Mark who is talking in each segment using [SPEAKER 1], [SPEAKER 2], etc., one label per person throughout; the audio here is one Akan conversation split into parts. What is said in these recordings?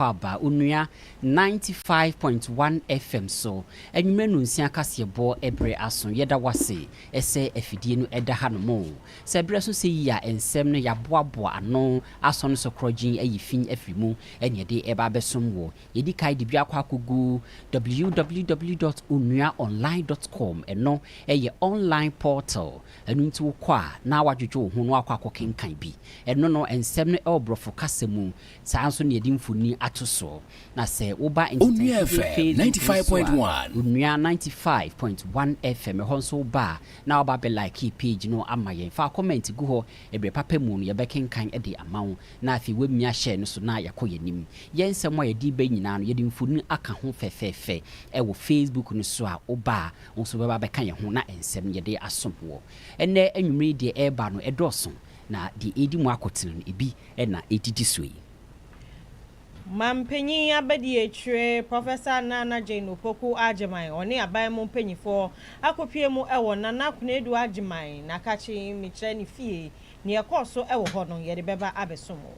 [SPEAKER 1] Akwaaba, Onua 95.1 FM so, anwummerɛ nnɔnsia kaseɛbɔ ɛberɛ aso. Yɛda wo ase sɛ afidie no da ha nom. Sɛ ɛberɛ so sɛ yi a, nsɛm no yɛaboaboa ano asɔ no so korɔgyenn ayi fi afiri mu na yɛde reba abɛsom wo. Yɛdi kan de bi akɔ akɔgu www dot onua online dot com, ɛno yɛ online portal, ɛno nti wokɔ a na woadwodwo wo ho na woakɔ akɔkenkan bi. Ɛno no, nsɛm no wɔ borɔfo kasa mu, Saa ara nso na yɛde mfoni ato so. Na sɛ woba Onua FM ninety five
[SPEAKER 2] point one. Onua ninety
[SPEAKER 1] five point one FM ɛhɔ nso woba a, na waba abɛ like page no ama yɛn. Fa comment gu hɔ, ɛbrɛ papa mu no yɛbɛkenkan de ama wo. Na afei wamia share no so na yɛakɔ yɛn anim. Yɛn nsɛm a yɛde reba yi nyinaa no yɛde mfoni aka ho fɛfɛɛfɛ ɛwɔ Facebook no so a woba a wo nso wobɛba abɛka yɛn ho na nsɛm no yɛde asom woɔ. Ɛnnɛ anwumerɛ yi deɛ ɛreba no ɛdɔɔso na deɛ ɛredi mu akotene no ebi na edidi so yi. Mampanyin
[SPEAKER 3] abadiakyire Professor Nana Jane Opoku Agyemang ɔne aban mu mpanyinfoɔ akɔpue mu wɔ Nana Konadu Agyemang Nakakye mekyerɛ ne fie. Nea ɛkɔɔ so wɔ hɔ no yɛde bɛba abɛsom wo.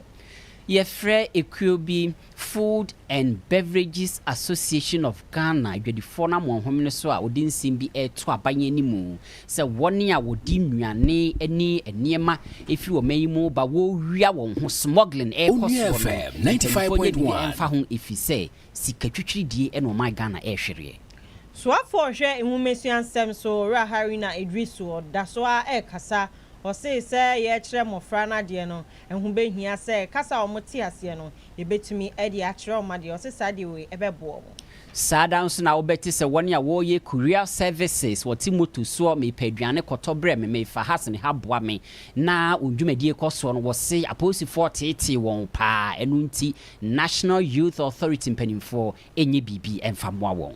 [SPEAKER 3] Yɛfrɛ
[SPEAKER 1] ekuo bi Food and Beverages Association of Ghana adwadifoɔ no amoahome no so a wɔde nsɛm bi reto aban animu sɛ wɔn a wɔde nnuane ne nneɛma firi ɔman yi mu reba wɔrewia wɔn ho smuggling rekɔ soɔ no mpanimfoɔ nyɛ
[SPEAKER 2] biribi mfa ho ɛfiri
[SPEAKER 1] sɛ sika twitwiridie na ɔman Ghana rehwereɛ. Soafoɔ
[SPEAKER 3] ɔhwɛ nwomasua nsɛm so Owura Haruna Iddrisu ɔdaso ara rekasa, ɔsee sɛ yɛrekyerɛ mmɔfra no adeɛ no Ɛho bɛhia sɛ kasa a wɔte aseɛ no, yɛbɛtumi de akyerɛ wɔn adeɛ. Ɔse saa deɛ wei ɛbɛboa wɔn. Saa da nso
[SPEAKER 1] na wobɛte sɛ wɔn a wɔreyɛ courier services, wɔte moto soɔ, mepɛ aduane kɔtɔ brɛ me, mefa ha sene ha boa me, na wɔn dwumadie kɔ soɔ no, wɔse apolisifoɔ teetee wɔn paa, ɛno nti National Youth Authority mpanimfoɔ nyɛ biribi mfa mmoa wɔn.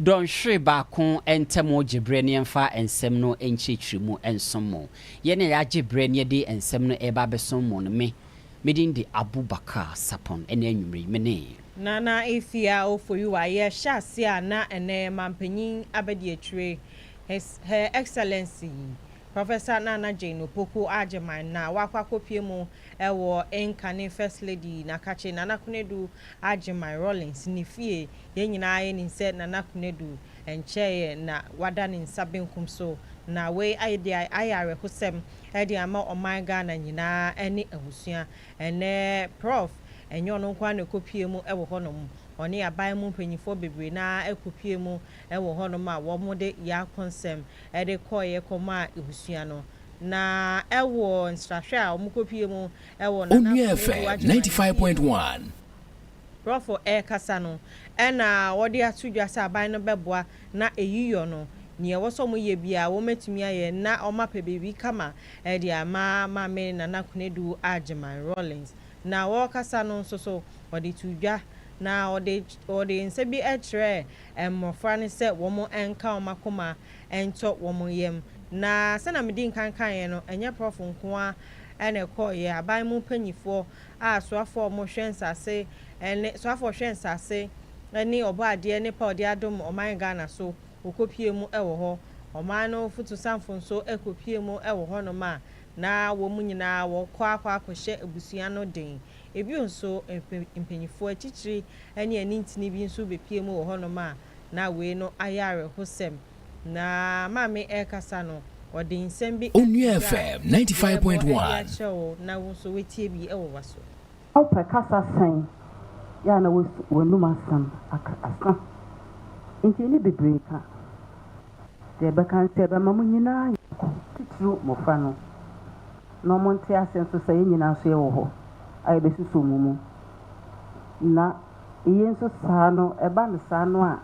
[SPEAKER 1] Dɔnhwere baako ntam gye berɛ ne yɛmfa nsɛm no nkyerɛkyerɛmu nsom mo. Yɛn a yɛagye berɛ ne yɛde nsɛm no reba abɛsom mo no, me, me din de Abubakar Sapon. Ɛnnɛ anwumerɛ yi, me ne. Nana Ethia
[SPEAKER 3] Ofoyuwa, yɛhyɛ aseɛ a na ɛnnɛ yɛ Mampanyin Abadiakyire, His, Her Excellency, Professor Nana Jane Opoku Agyemang na wakɔ akɔpue mu wɔ incoming First Lady Nakakye Nana Konadu Agyemang Rawlings ne fie Yɛn nyinaa nim sɛ Nana Konadu nkyɛeɛ na wada ne nsa benkum so, na wei ayɛ deɛ ayɛ awerɛhosɛm de ama ɔman Ghana nyinaa ne abusua. Ɛnnɛ Prɔf. Ɛnyɛ ɔno nko ara na ɛkɔpue mu wɔ hɔnom, ɔne aban mu mpanimfoɔ bebree no ara kɔpue mu wɔ hɔnom a wɔde Yaakonsɛm de kɔeɛ kɔmaa abusua no, na wɔ nsrahwɛ a wɔkɔpue mu wɔ Nana Konadu agyeman no fie. Borɔfo rekasa no, ɛna wɔde ato dwa sɛ aban no bɛboa na eyi yɔ no, nea ɛwɔ sɛ wɔyɛ biara wɔatumi ayɛ na wɔapɛ biribi kama de ama Maame Nana Konadu Agyeman Rawlings. Na wɔrekasa no nso so, wɔde too dwa na wɔde wɔde nsa bi kyerɛɛ mmofra no sɛ wɔnka wɔn akoma ntɔ wɔn yam. Na sɛnea midii nkan kaeɛ no, ɛnyɛ borɔfo nko ara na ɛkɔeɛ, aban mu mpanimfoɔ a soafoɔ a wɔhwɛ nsase ne soafoɔ a ɔhwɛ nsase ne ɔbɔadeɛ ne pao de adom ɔman Ghana so wɔkɔpue mu wɔ hɔ. Ɔman no fotusanfo nso kɔpue mu wɔ hɔnom a na wɔn nyinaa wɔkɔ akɔ akɔhyɛ abusua no den. Bio nso mpa mpaninfoɔ atitire ne anintini bi nso bɛpue mu wɔ hɔnom a na wei no ayɛ awerɛhosɛm. Na Maame rekasa no, ɔde nsɛm bi ato dwa a yɛrebɔ
[SPEAKER 2] de akyerɛ wo na wo nso
[SPEAKER 3] woatie bi wɔ w'aso. Wopɛ kasa
[SPEAKER 4] sɛn? Yɛ a na woasu w'anom asɛm aka asa. Enti ɛnne bebree ka. Deɛ ɛbɛka ne sɛ ɛbɛma mo nyinaa ayɛ baako, titiriw mmofra no, na wɔnte ase nso sɛ yɛn nyinaa nso yɛwɔ hɔ a yɛbɛsosɔ mo mu. Na eye nso saa no, ɛba no saa no a,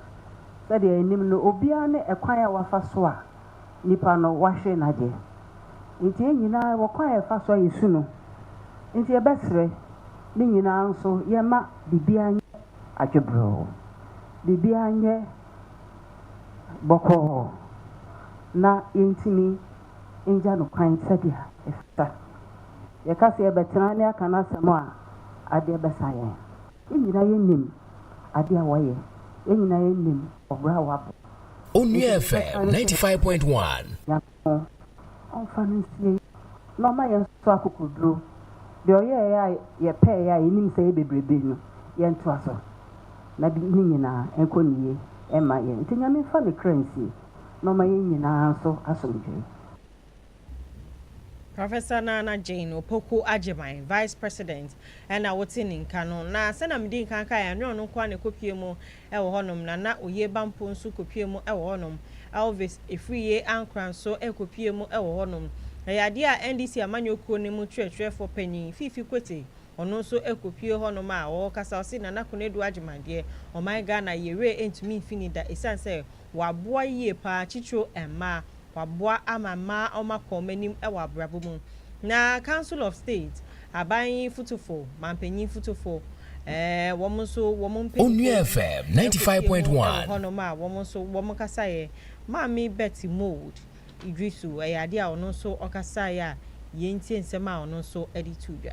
[SPEAKER 4] Sɛdeɛ yɛnim no, obiara ne ɛkwan a wafa so a nipa no wahwere no adeɛ. Enti yɛn nyinaa yɛwɔ kwan a yɛfa so a yɛsu no. Enti yɛbɛsrɛ, ne nyinaa nso yɛmma biribiara nyɛ adwebrɛɔ, biribiara nyɛ bɔkɔɔ na yɛntumi ngya no kwan sɛdeɛ ɛfata. Yɛka sɛ yɛbɛtena ne aka n'asɛm a, adeɛ bɛsa yɛn. Yɛn nyinaa yɛ nim adeɛ a wɔyɛ. Yɛn nyinaa yɛ nim ɔbra a wɔabɔ. Onua FM ninety five
[SPEAKER 2] point one. Nyankopɔn
[SPEAKER 4] ɔnfa no nsie na ɔma yɛn nso akokoduro. Deɛ ɔyɛɛ a yɛpɛɛ a yɛnim sɛ yɛ bebrebe no yɛntoa so na de ne nyinaa ɛnkɔ ne yie ɛma yɛn. Nti Nyame nfa ne kra nsie na ɔma yɛn nyinaa nso asomdwoe.
[SPEAKER 3] Professor Nana Jane Opoku Agyemang, Vice President, na wotse ne nka no, na sɛnea medii nkan kae, annyɛ ɔno nkoa na ekopue mu wɔ hɔnom, Nana Oye Bampoe so kopue mu wɔ hɔnom, Elvis Afriyie Ankrah nso kopue mu wɔ hɔnom. Ɛyɛ adeɛ a NDC amanyɔ kuo no mu kyerɛkyerɛfoɔ panin, Fifi Kwete, ɔno nso kopue hɔnom a ɔkasa, ɔse Nana Konadu Agyemang deɛ, ɔman Ghana, yɛn werɛ ntumi mfi no da, ɛsiane sɛ, wɔaboa yie paa titiriw mmaa, wɔaboa ama mmaa wɔakɔ wɔn anim wɔ abrabɔ mu. Na Council of State, aban yi fotofo, mampanyin fotofo, eh, wɔn nso wɔn mpanyimfo bi kofi mu
[SPEAKER 2] wɔ hɔnom a wɔn nso
[SPEAKER 3] wɔkasaeɛ. Maame Betty Mould Iddrisu, ɛyɛ adeɛ a ɔno nso ɔkasaeɛ a yɛntie nsɛm a ɔno nso de too dwa.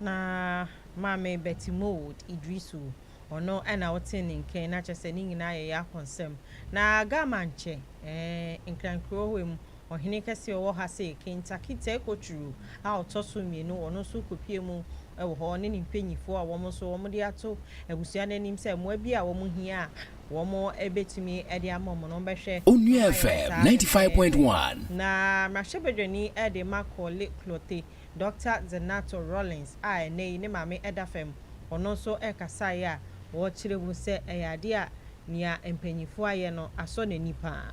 [SPEAKER 5] Na
[SPEAKER 3] Maame Betty Mould Idrisu, ɔno na ɔtee ne nkan, na kyerɛ sɛ ne nyinaa yɛ Yako nsɛm. Na Gamankyɛ, eh, Nkrankura Ohe mu, ɔhene kɛse a ɔwɔ ha sei, Kintaki Tekoturu a ɔtɔ so mmienu, ɔno nso kɔpue mu wɔ hɔ, ɔne ne mpanimfoɔ a wɔn nso wɔde ato abusua no anim sɛ mmoa bi a wɔn hia a wɔn bɛtumi de ama wɔn no, wɔn bɛhwɛ Onua FM 95.1.
[SPEAKER 2] Na
[SPEAKER 3] mmarahyɛbadwani de ma Korle Klottey Dɔkta Zenato Rollins a ɛnnɛyi ne maame da fam, ɔno nso kasaeɛ a ɔkyerɛ mu sɛ ɛyɛ adeɛ a nea mpanyimfoɔ ayɛ no asɔ n'ani
[SPEAKER 6] paa.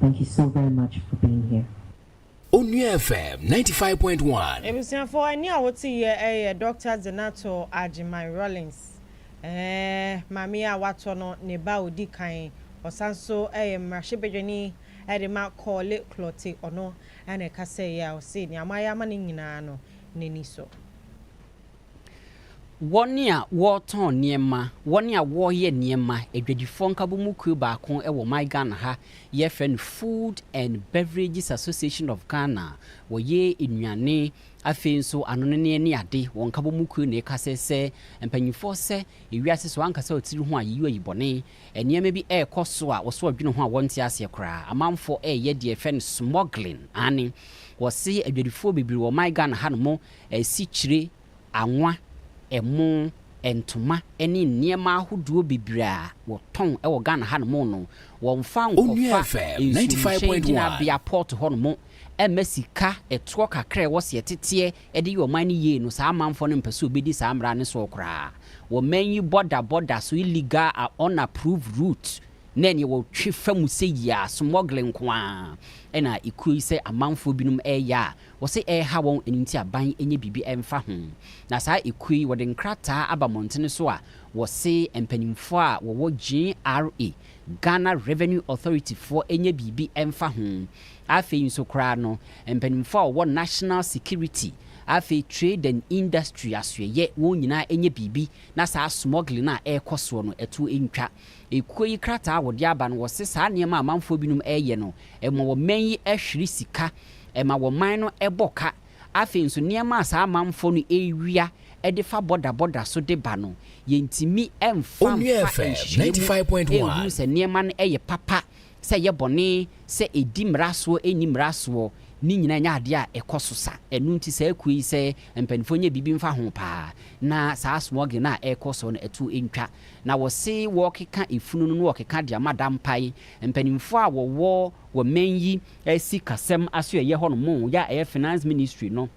[SPEAKER 6] Thank you
[SPEAKER 2] so very much for being here. Onua FM 95.1. Ebusuafo ɛne a
[SPEAKER 3] wote yɛ ɛyɛ Doctor Zenato Agyeman Rawlings ɛɛ maame yi a watɔ no ne ba a odi kan ɔsan nso ɛyɛ mmarahyɛ badwani ɛde ma Korle Klottey ɔno ɛna ɛkasa yi a ɔse nea moayɛ ama no nyinaa no n'ani so.
[SPEAKER 1] Wɔn a wɔretɔn nneɛma, wɔn a wɔreyɛ nneɛma, adwadifoɔ nkabomu kuo baako wɔ my Ghana ha, yɛfrɛ no Food and Beverages Association of Ghana, wɔyɛ nnuane, afei nso anoneneɛ ne ade, wɔn nkabomu kuo na ɛka sɛ sɛ mpaninfoɔ sɛ ewiase so ankasa ɔtiri ho a yɛyi ayi bɔne, nneɛma bi ɛrekɔ so a wɔso adwene ho a wɔnte aseɛ koraa, amanfoɔ ɛreyɛ deɛ yɛfrɛ no smuggling, aane, wɔse adwadifoɔ bebree wɔ my Ghana ha nom, asikyire, anwa, ɛmo, ntoma ne nneɛma ahodoɔ bebree a wɔtɔn wɔ Ghana hanom no, wɔmfa nkɔfa nsuomhyɛn gyinabea port hɔnom mma sika ɛtoɔ kakra a ɛwɔ seɛ teteɛ de yɛ ɔman no yie no, saa amanfoɔ no mpɛ sɛ wɔbɛdi saa mmara no soɔ koraa. Wɔman yi bɔda bɔda so illegal and unapproved route ne neɛ wɔtwe fa mu sɛ yi ara, smuggling nko ara na ɛkuo yi sɛ amanfoɔ binom ɛreyɛ a Wɔse ɛreha wɔn ɛno nti aban nyɛ biribi ɛmfa ho. Na saa ekuo yi wɔde nkrataa aba mmɔntene so a wɔse mpaninfoɔ a wɔwɔ GRA, Ghana Revenue Authority, foɔ nyɛ biribi ɛmfa ho. Afei nso koraa no mpaninfoɔ a wɔwɔ National Security, afei Trade and Industry asoɛyɛ wɔn nyinaa nyɛ biribi na saa smuggling a ɛrekɔ soɔ no ɛtoɔ ntwa. Ekuo yi krataa a wɔde aba no wɔse saa nneɛma a amanfoɔ binom ɛreyɛ no ɛma wɔman yi ɛhwere sika ɛma wɔn man no bɔ ka. Afei nso, nneɛma a saa amanfoɔ no rewia de fa bɔdabɔda so de ba no, yɛntumi mfa Onua mfa FM nhyehyɛeɛ ninety mu five
[SPEAKER 2] point one. nhunu sɛ nneɛma
[SPEAKER 1] no yɛ papa, sɛ ɛyɛ bɔne, sɛ ɛdi mmara soɔ, ɛnni mmara soɔ. Ne nyinaa nyɛ adeɛ a ɛkɔ so sa. Ɛno nti saa akuo yi, sɛ mpanimfoɔ nyɛ biribi mfa ho paa na saa smuggling no a ɛrekɔ soɔ no ɛto ntwa. Na wɔse wɔrekeka efunu no na wɔrekeka de ama dampae. Mpanimfoɔ a wɔwɔ wɔ mmɛn yi Sikasɛm asoɛyɛ hɔ nom yɛ a ɛyɛ Finance Ministry no,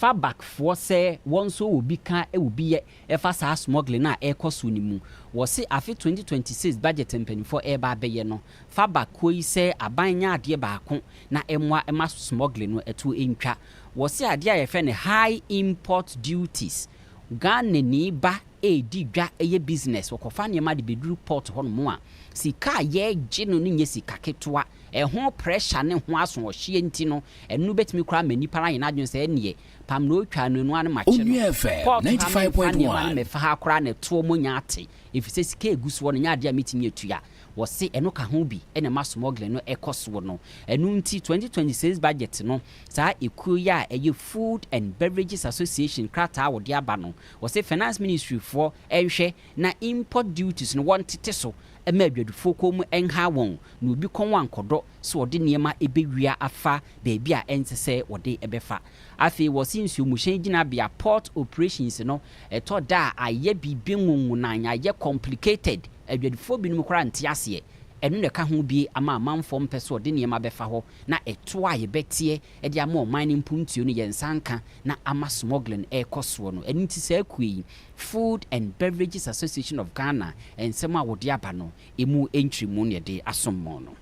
[SPEAKER 1] FABAC foɔ sɛ wɔn nso wɔ bi ka wɔ bi yɛ ɛfa saa smuggling a ɛrekɔ so no mu. Wɔ se afe 2026 budget mpaninfoɔ ɛreba abɛyɛ no, FABAC kuo yi sɛ aban nyɛ adeɛ baako na ɛmmoa ɛma smuggling no ɛto ɛntwa. Wɔ se adeɛ a yɛfrɛ no High Import Duties, Ghanani ba redi dwa yɛ business, wɔkɔfa nneɛma de bɛduru port hɔnom a, sika a yɛregye no no nyɛ sika ketewa. Ɛho pressure ne ho asoɔhyeɛ nti no, ɛno bɛtumi koraa ama nnipa no ayɛ n'adwene sɛ ɛnneɛ, pam na ɔretwa no anu ara na makye no. Port ha memfa nneɛma
[SPEAKER 2] no mmɛfa ha koraa
[SPEAKER 1] na ɛtoɔ mɔnya ate, ɛfiri sɛ sika a ɛgu soɔ no nyɛ adeɛ a mɛtumi atua. Wɔse ɛno ka ho bi na ɛma smuggling no kɔ soɔ no. Ɛno nti 2026 budget no, saa ekuo yi a ɛyɛ Food and Beverages Association krataa a wɔde aba no, Wɔse Finance Ministry foɔ nhwɛ na import duties no wɔntete so ma adwadifoɔ kɔn mu nhaa wɔn na obi kɔn ankɔdɔ sɛ ɔde nneɛma bɛwia afa baabi a ɛnsɛ sɛ wɔde bɛfa. Afei wɔse nsuomuhyɛn gyinabea, port operations, no ɛtɔ da a ayɛ biribi nwonwonan, ayɛ complicated, adwadifoɔ binom koraa nte aseɛ. Ɛno na ɛka ho bi ama amanfoɔ mpɛ sɛ wɔde nneɛma bɛfa hɔ na ɛtoɔ a yɛbɛteɛ de ama ɔman no mpuntuo no yɛ nsa nka na ama smuggling rekɔ soɔ no. Ɛno nti saa kuo yi, Food and Beverages Association of Ghana, nsɛm a wɔde aba no, ɛmu nkyerɛmu na yɛde asom mo no.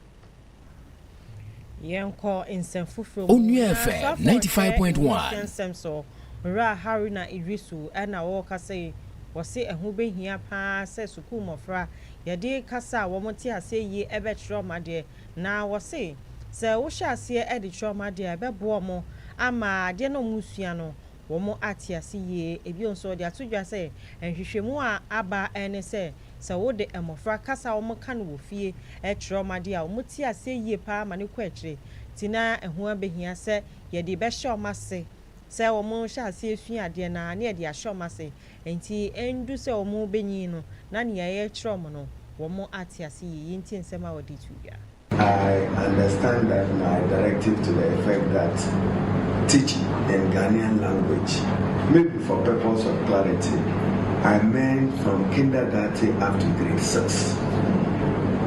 [SPEAKER 3] Yɛnkɔ nsɛm foforɔ mu. Onua FM Nanso afei
[SPEAKER 2] ninety five ɔkyerɛ point ɛho one.
[SPEAKER 3] hyɛ nsɛm so. Owura Haruna Iddrisu na ɔrekasa yi, ɔse ɛho bɛhia pa ara sɛ sukuu mmɔfra yɛde kasa a wɔte aseɛ yie bɛkyerɛ wɔn adeɛ Na wɔse sɛ wohyɛ aseɛ de kyerɛ wɔn adeɛ a ɛbɛboa wɔn ama adeɛ no a wɔresua no wɔn ate ase yie. Ebio nso wɔde ato dwa sɛ nhwehwɛmu a aba ne sɛ, sɛ wode mmɔfra kasa a wɔka no wɔ fie kyerɛ wɔn adeɛ a wɔte aseɛ yie pa ara ma no kɔ akyire. Nti na ɛho abɛhia sɛ yɛde bɛhyɛ wɔn ase sɛ wɔhyɛ aseɛ sua adeɛ no ara na yɛde ahyɛ wɔn ase Enti endu sɛ wɔrebenyin no, na nea yɛrekyerɛ wɔn no, wɔate ase yiye. Eyi nti nsɛm a wɔde to dwa. I
[SPEAKER 7] understand that my directive to the effect that teaching in Ghanaian language may be for purpose of clarity I meant from kindergarty up to grade six.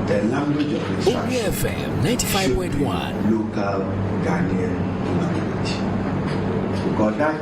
[SPEAKER 7] The language of instruction
[SPEAKER 2] should be local
[SPEAKER 7] Ghanaian language. Because that.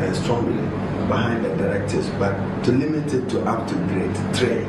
[SPEAKER 7] and strongly behind the directives but to limit it to up to grade three.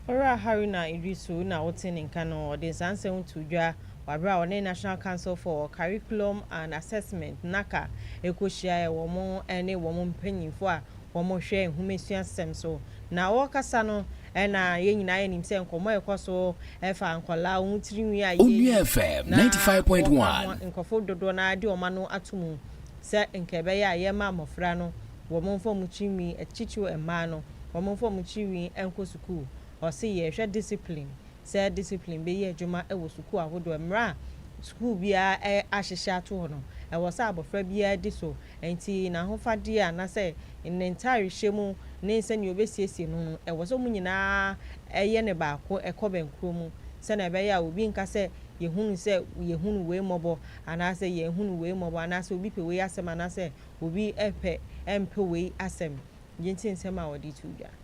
[SPEAKER 3] Owura Haruna Iddrisu na ɔte ne nka no, ɔde saa nsɛm yi too dwa wɔ bere a ɔne National Council for Curriculum and Assessment, NACA, rekɔhyiaeɛ wɔ wɔn ne wɔn mpanyimfoɔ a wɔhwɛ nhomasua-sɛm so. Na ɔɔkasa no na yɛn nyinaa yɛ nim sɛ nkɔmɔ a ɛkɔ so fa nkɔlaa, wɔn tirinwi a yɛyi, na wɔka ho a
[SPEAKER 2] nkurɔfo dodoɔ no
[SPEAKER 3] ara de wɔn ano ato mu sɛ nka ɛbɛyɛ a yɛma mmɔfra no wɔn mfa wɔn tirinwi, titiriw mmaa no, wɔn mfa wɔn tirinwi nkɔ sukuu. Ɔse yɛrehwɛ discipline. sɛ discipline bɛyɛ adwuma wɔ sukuu ahodoɔ mmerɛ a sukuu biara ahyehyɛ ato hɔ no, ɛwɔ sɛ abɔfra biara di so, ɛnti n'ahofadeɛ anaasɛ ne ntaare hyɛ mu ne sɛdeɛ ɔbɛsiesie ne ho no ɛwɔ sɛ wɔn nyinaa yɛ no baako ɛkɔ bɛnkorɔ mu sɛdeɛ ɛbɛyɛ a obi nka sɛ yɛhunu sɛ yɛhunu wei mmɔbɔ anaasɛ yɛnhunu wei mmɔbɔ anaasɛ obi pɛ wei asɛm anaasɛ obi pɛ mpɛ wei asɛm, gye nti nsɛm a wɔde to dwa.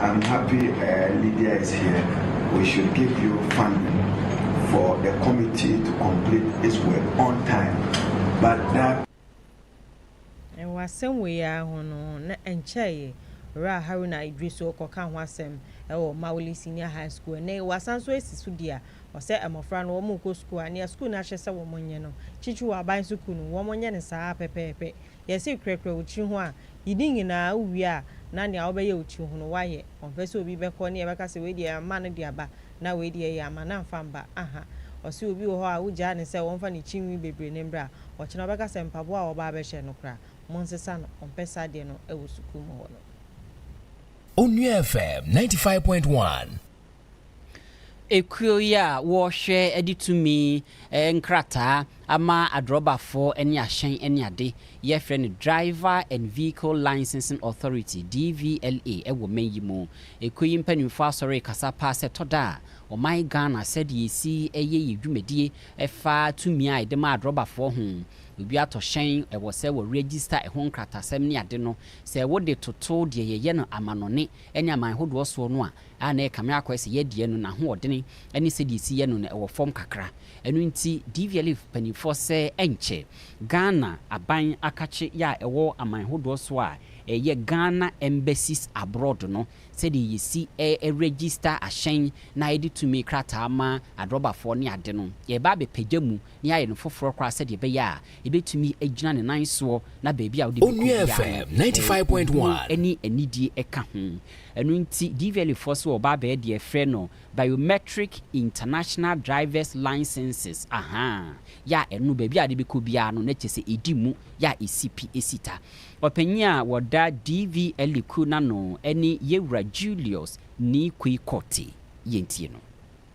[SPEAKER 7] I'm happy eh Lydia is here we should give you funding for the committee to complete it's work on time but that.
[SPEAKER 3] Wɔ asɛm wei ara ho no, na ɛnkyɛeɛ Owura Haruna Iddrisu rekɔka ho asɛm wɔ Mawuli Senior High School. Ɛnnɛ yi, wɔasan nso asi so dua. Ɔsɛ mmɔfra no wɔrekɔ sukuu a, nea sukuu no ahyɛ sɛ wɔnyɛ no, Kyikyiri Aban Sukuu no, wɔnyɛ no saa ara pɛpɛɛpɛ. yɛse kurakura wo tiri ho a, yidi nyinaa wowie a na nea wobɛyɛ wo tiri ho no woayɛ. Ɔmpɛ sɛ obi bɛkɔ ne yɛbɛka sɛ wei deɛ yɛama no de aba na wei deɛ yɛamma no amfa mba. Aha! Ɔse obi wɔ hɔ a wogyaa no sɛ ɔmfa ne tiri nwi bebree no mbra, ɔkyena ɔbɛka sɛ mpaboa a wɔba abɛhyɛ no koraa monsesa no, ɔmpɛ saa deɛ no wɔ sukuu mu hɔ no. Onua
[SPEAKER 2] FM ninety five point one.
[SPEAKER 1] Ekuo yi a wɔhwɛ de tumi nkrataa ama adrɔbafo ne ahyɛn ne ade yɛfrɛ no Driver and Vehicle Licensing Authority, DVLA, wɔ man yi mu. Ekuo yi mpaninfoɔ asɔre rekasa paa sɛ ɛtɔ da a ɔman Ghana sɛdeɛ yɛsi yɛ yɛ dwumadie ɛfa tumi a yɛde ma adrɔbafoɔ ho. Obi atɔ hyɛn ɛwɔ sɛ wɔ register ɛho nkratasɛm ne ade no sɛ wode toto deɛ yɛyɛ no amanɔne ne aman hodoɔ soɔ no a a na ɛkame akɔ sɛ yɛdeɛ no n'ahoɔdene ne sɛdeɛ ɛsi yɛ no no ɛwɔ fam kakra. Ɛno nti DVLF mpaninfoɔ sɛ ɛnkyɛ Ghana aban akakye yɛ a ɛwɔ aman hodoɔ soɔ a ɛyɛ Ghana Embassies Abroad no sɛdeɛ yɛsi ɛ register ahyɛn na yɛde tumi krataa ma adrɔbafoɔ ne ade no yɛreba abɛpagya mu na yɛayɛ no foforɔ koraa sɛdeɛ ɛbɛyɛ a ɛbɛtumi agyina ne nan soɔ na baabi a wode bɛkɔ biara no,
[SPEAKER 2] obuo ne anidie
[SPEAKER 1] ka ho. Ɛno nti, Dvalifoɔ so ɔbaa bɛyɛ deɛ yɛfrɛ no Biometric International Drivers Licences, ahaa, yɛ a ɛno baabi a wode bɛkɔ biara no, na kyerɛ sɛ ɛdi mu, yɛ a ɛsi pi, ɛsi ta. Ɔpanin a wɔda Dvali kuo no ano ne Yɛwura Julius Nii Kui Kortey. Yɛntie no.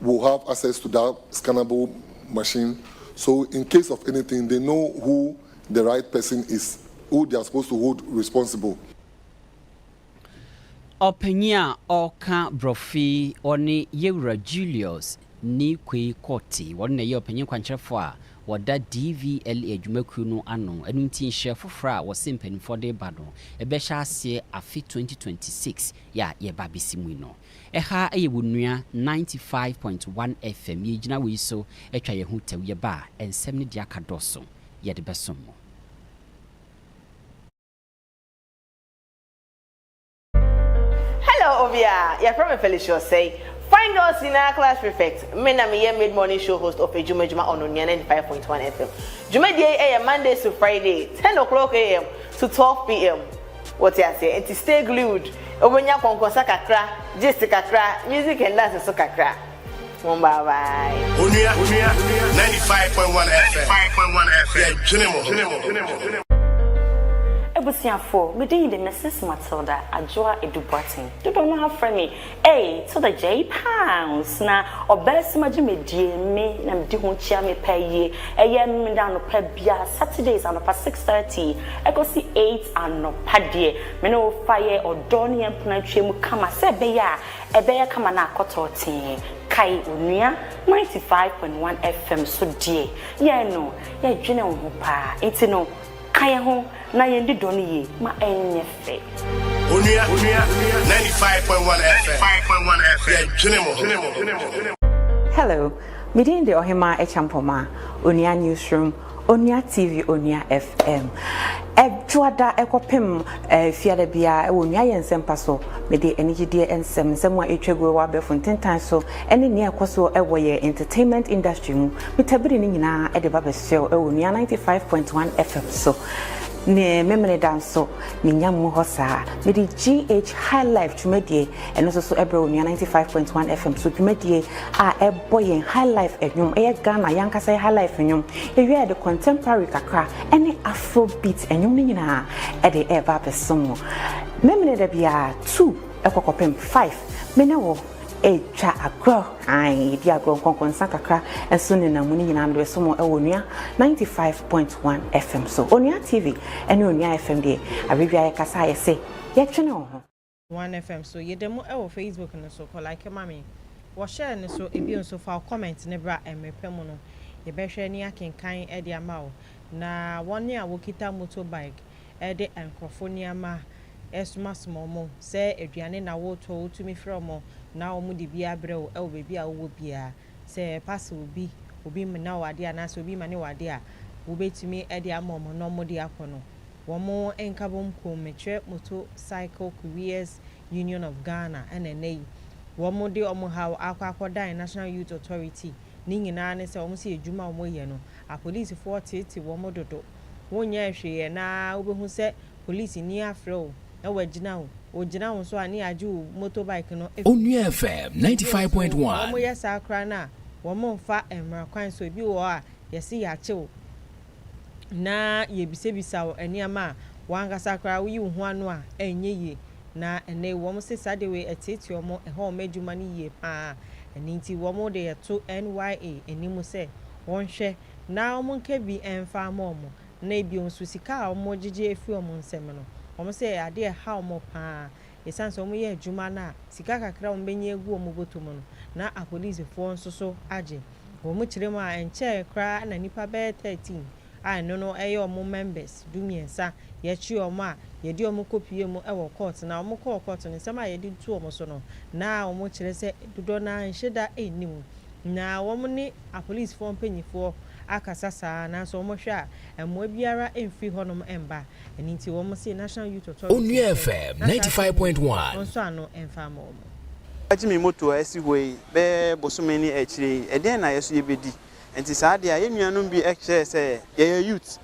[SPEAKER 8] will have access to that scannable machine so in case of anything they know who the right person is who they are supposed to hold responsible.
[SPEAKER 1] Ɔpanyin a ɔka brɔfi yi ɔne Yewura Julius Nikwei Kortey, ɔno na ɛyɛ ɔpanyin kwankyerɛfo a ɔda DVLA dwumakuo no ano, ɛno nti nhyerɛ foforɔ a wɔse mpaninfoɔ de reba no ɛbɛhyɛ aseɛ afe 2026 yɛ a yɛreba abɛsi mu yi no. Ɛha yɛ wo nua ninety five point one FM yɛ gyina wei so twa yɛ ho tɛw yɛ ba a nsɛm ne deɛ aka dɔɔso yɛ de bɛ som mo.
[SPEAKER 9] Hello obia, yɛfrɛ me Felicia Osei, Fine Girls nyinaa class prefect. Me na meyɛ mid morning show host of Adwuma Adwuma on Onua ninety five point one FM. Dwumadie yi yɛ Mondays to Friday ten o'clock AM to twelve PM. Wote aseɛ? Nti stay glued, wobɛnya kɔnkɔnsa kakra, gist kakra, music and dance nso kakra. Home bye bye. Onua, ninety five
[SPEAKER 10] point one FM, yɛdwene mo ho. Abusuafoɔ,
[SPEAKER 11] me din de Mrs Matilda Adwoa Adu Boateng, dodoɔ no ara frɛ me. Ei to the J pounds na ɔbɛɛsɛm agye me die me na medi ho kyia me pɛ yie ɛyɛ me dɛ anɔpa bia Saturdays anɔpa six thirty ɛkɔsi eight anɔpa deɛ me ne wo fa yɛ ɔdɔ ne yɛn mpena twa mu kama sɛ ɛbɛyɛ a ɛbɛyɛ kama na akɔ tɔɔtee kae onua ninety five point one FM so deɛ yɛn no yɛdwene wo ho paa nti no Ka yɛn ho na yɛn di dɔ no yie ma ɛnyɛ fɛ. Onua, onua, onua, ninety five point one FM,
[SPEAKER 10] ninety five point one FM, yɛ dwene mo ho, dwene mo ho, dwene mo ho. Hello,
[SPEAKER 12] me din de Ɔhemaa Akyampɔma, Onua Newsroom, Onua TV, Onua FM. Ɛdwoada ɛkɔpem fiada biara ɛwɔ Onua Yɛ Nsɛmpa so. Mede anigyedeɛ nsɛm, nsɛm a ɛtwa guo wɔ abɛɛfo ntentan so, ɛne nea ɛkɔ so ɛwɔ yɛ entertainment industry mu. Peter bere no nyinaa de ba bɛsow wɔ Nua 95.1 FM so. Ne Memeneda nso, minya mu hɔ saa. Mede GH High Life dwumadie ɛno nso so brɛ wɔ Nua 95.1 FM so. Dwumadie a ɛbɔ yɛn High Life nnwom, ɛyɛ Ghana yankasa yɛ High Life nnwom. Yɛwie a yɛde contemporary kakra ne Afrobeat nnwom no nyinaa ɛde ɛreba abɛsom mo. Memeneda biara two ɛkɔ kɔpem five. Me ne wo. Etwa agorɔ, ae, yɛdi agorɔ nkɔnkɔnsa kakra nso nenam mu, ne nyinaa mede bɛso mo wɔ Onua 95.1 FM so. Onua TV ne Onua FM deɛ, awerɛ biara yɛkasa a yɛse yɛtwene wo ho. 1 FM
[SPEAKER 3] so. Yɛda mu wɔ Facebook no so, kɔ like ma me wɔ share no so, ebio nso fa wo comment no bra mmere pa mu no yɛbɛhwɛ ne akenkan de ama wo. Na wɔn a wɔkita motorbike, de nkurɔfo nneɛma resomasoma wɔn sɛ aduane na woretɔ a wotumi frɛ wɔn na wɔde bi abrɛ wo wɔ baabi a wowɔ biara. Sɛ pastor obi, obi mmena wo ade anaasɛ obi mmane wo ade a, wobetumi de ama wɔn na wɔde akɔ no. Wɔn nkabom kuom, mekyerɛ Moto Cycle Couriers Union of Ghana na nnɛ yi wɔde wɔn haw akɔ akɔdan National Youth Authority, ne nyinaa ne sɛ wɔn se adwuma a wɔyɛ no, apolisifoɔ teetee wɔn dodo. wonyɛɛ hwee ɛ na wobɛhu sɛ polisini afrɛ wo na wagyina wo, ɔgyina wo nso a ne yɛagye wo motorbike no afiri Onua FM ninety five
[SPEAKER 2] point one. Sɛ wɔyɛ saa koraa
[SPEAKER 3] no a wɔmmfa mmara kwan so, ebi wɔ hɔ a yɛse yɛakye wo na yɛbisabisa wo nneɛma a w'ankasa koraa woyi wo ho ano a ɛnyɛ yie na ɛnnɛ yi wɔn se saa de wei ɛteetee wɔn, ɛha wɔn adwuma no yie pa ara ɛno nti wɔn de yɛto NYA anim sɛ wɔnhwɛ. na wɔnka bi mfa mma wɔn, na bio nso sika a wɔgyegye afi wɔn nsam no, wɔsɛ ɛyɛ adeɛ a ɛha wɔn pa ara, ɛsiane sɛ wɔyɛ adwuma no a sika kakra a wɔbɛnya agu wɔn bɔtɔ mu no, na apolisifoɔ nso so agye wɔn kyerɛ mu a ɛnkyɛɛ koraa na nnipa bɛyɛ 13 a ɛno no yɛ wɔn members du mmiɛnsa yɛkye wɔn a yɛde wɔn kɔpuee mu wɔ kɔɔt na wɔkɔɔ kɔɔt no nsɛm a yɛde to wɔn so no na wɔkyerɛ sɛ dodoɔ no ara nhyeda nni mu. Na wɔn ne apolisifoɔ mpanimfoɔ akasa saa ara, nanso wɔhwɛ a, mmoa biara mfiri hɔnom mba. Ɛno nti, wɔn se National Youth Authority Onua nkyɛn FM na ninety saa
[SPEAKER 2] five point asɛm yi one. wɔnsɔ ano mfa
[SPEAKER 3] mma wɔn. Magye me
[SPEAKER 13] moto a asi hɔ yi bɛyɛ bosome ne akyire yi, ɛdeɛn na yɛ nso yɛbɛdi? Ɛnti saa adeɛ a, yɛn nuanom bi kyerɛɛ sɛ, yɛyɛ youth,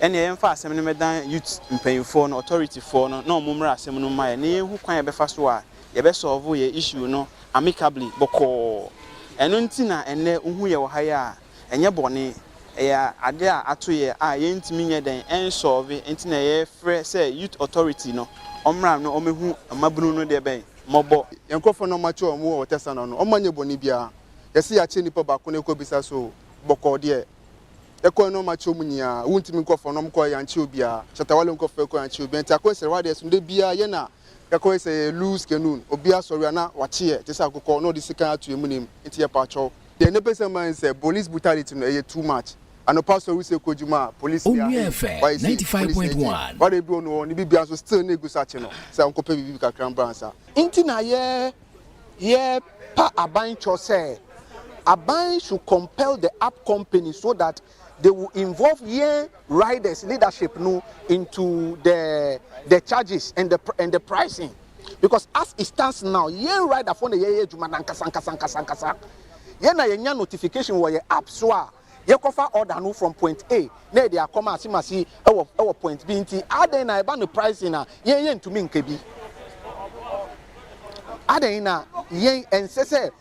[SPEAKER 13] ɛnneɛ yɛmfa asɛm no mmɛdan youth mpaninfoɔ no, authority foɔ no, na wɔn mmra asɛm no mu mma yɛn, na yɛnhu kwan a yɛbɛfa so a yɛbɛ solve yɛn issue no amicably bɔkɔɔ. Ɛno nti na ɛnnɛ wohu yɛ wɔ ha yi a. Ɛnyɛ bɔne. Ɛyɛ ade a ato yɛ a yɛntumi nyɛ dɛn nsolve nti na yɛfrɛ sɛ Youth Authority no ɔmmra na ɔmɛhu mmabunu no deɛ bɛn? Mmɔbɔ. Yɛn nkorɔfoɔ no wɔakyɛ wɔn
[SPEAKER 14] wɔ ɔtɛsa no ano. Wɔn anyɛ bɔne biara. Yɛse yɛakyɛ nnipa baako na yɛkɔbisa so bɔkɔɔ deɛ. Yɛkɔɛ no wɔakyɛ wɔn nyinaa. Wontumi nkorɔfoɔ no wɔkɔɛ yɛankyɛ obiara. Shatta Wale nkorɔfoɔ yɛkɔɛ yɛankyɛ obiara nti akwanhyira wɔ adeɛ so no da biara yɛn na Yɛkɔ yi sɛ yɛ lose canoe obia sɔre a na wakyeɛ te sɛ akokɔ na ɔde sekan ato yɛ munim nti yɛ pakyɛw. Deɛ ne pɛsɛ ma ne sɛ police brutality no ɛyɛ too much anɔpa sɔre sɛ kɔ adwuma a police ni ahee wayɛ
[SPEAKER 2] sei police ni agye wada aduro no hɔ
[SPEAKER 14] ne bibia nso still na egu so akye no sɛ ɔnkɔ pɛ biribi kakra mbra nsa. Nti na yɛ
[SPEAKER 15] yɛ pa aban kyɔ sɛ aban should compel the app company so that they will involve yɛn riders leadership no into the the charges and the and the pricing because as it stands now yɛn rider fo na yɛyɛ adwuma nankasa nkasa nkasa nkasa yɛn na yɛnya notification wɔ yɛn app so a yɛkɔfa order no from point A na yɛde akɔma asemasi ɛwɔ ɛwɔ point B nti adɛn na ɛba no pricing a yɛn yɛntumi nka bi adɛn na yɛn ɛnsɛ sɛ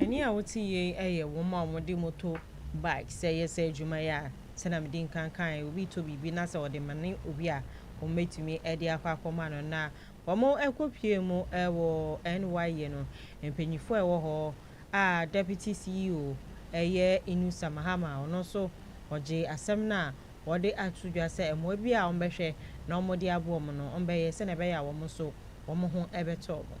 [SPEAKER 3] Ɛnne a wote yei yɛ wɔn a wɔde moto bike sɛ yɛ sɛ adwuma yi a sɛnea mede nkan kaeɛ obi retɔ biribi na sɛ ɔde mane obi a wɔbɛtumi de akɔ akɔma no na wɔkɔpue mu wɔ NYE no mpanyinfoɔ a ɛwɔ hɔ a Deputy CEO yɛ Innusa Mahama a ɔno nso ɔgyee asɛm no a wɔde ato dwa sɛ mmoa bi a wɔbɛhwɛ na wɔde aboa wɔn no wɔbɛyɛ sɛnea ɛbɛyɛ a wɔn nso wɔn ho bɛtɔ wɔn.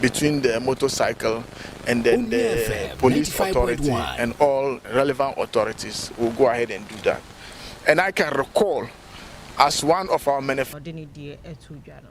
[SPEAKER 16] between the motorcycle and then the police authority and all relevant authorities will go ahead and do that and I can recall as one of our manif. Ɔde ne deɛ ɛto dwa no.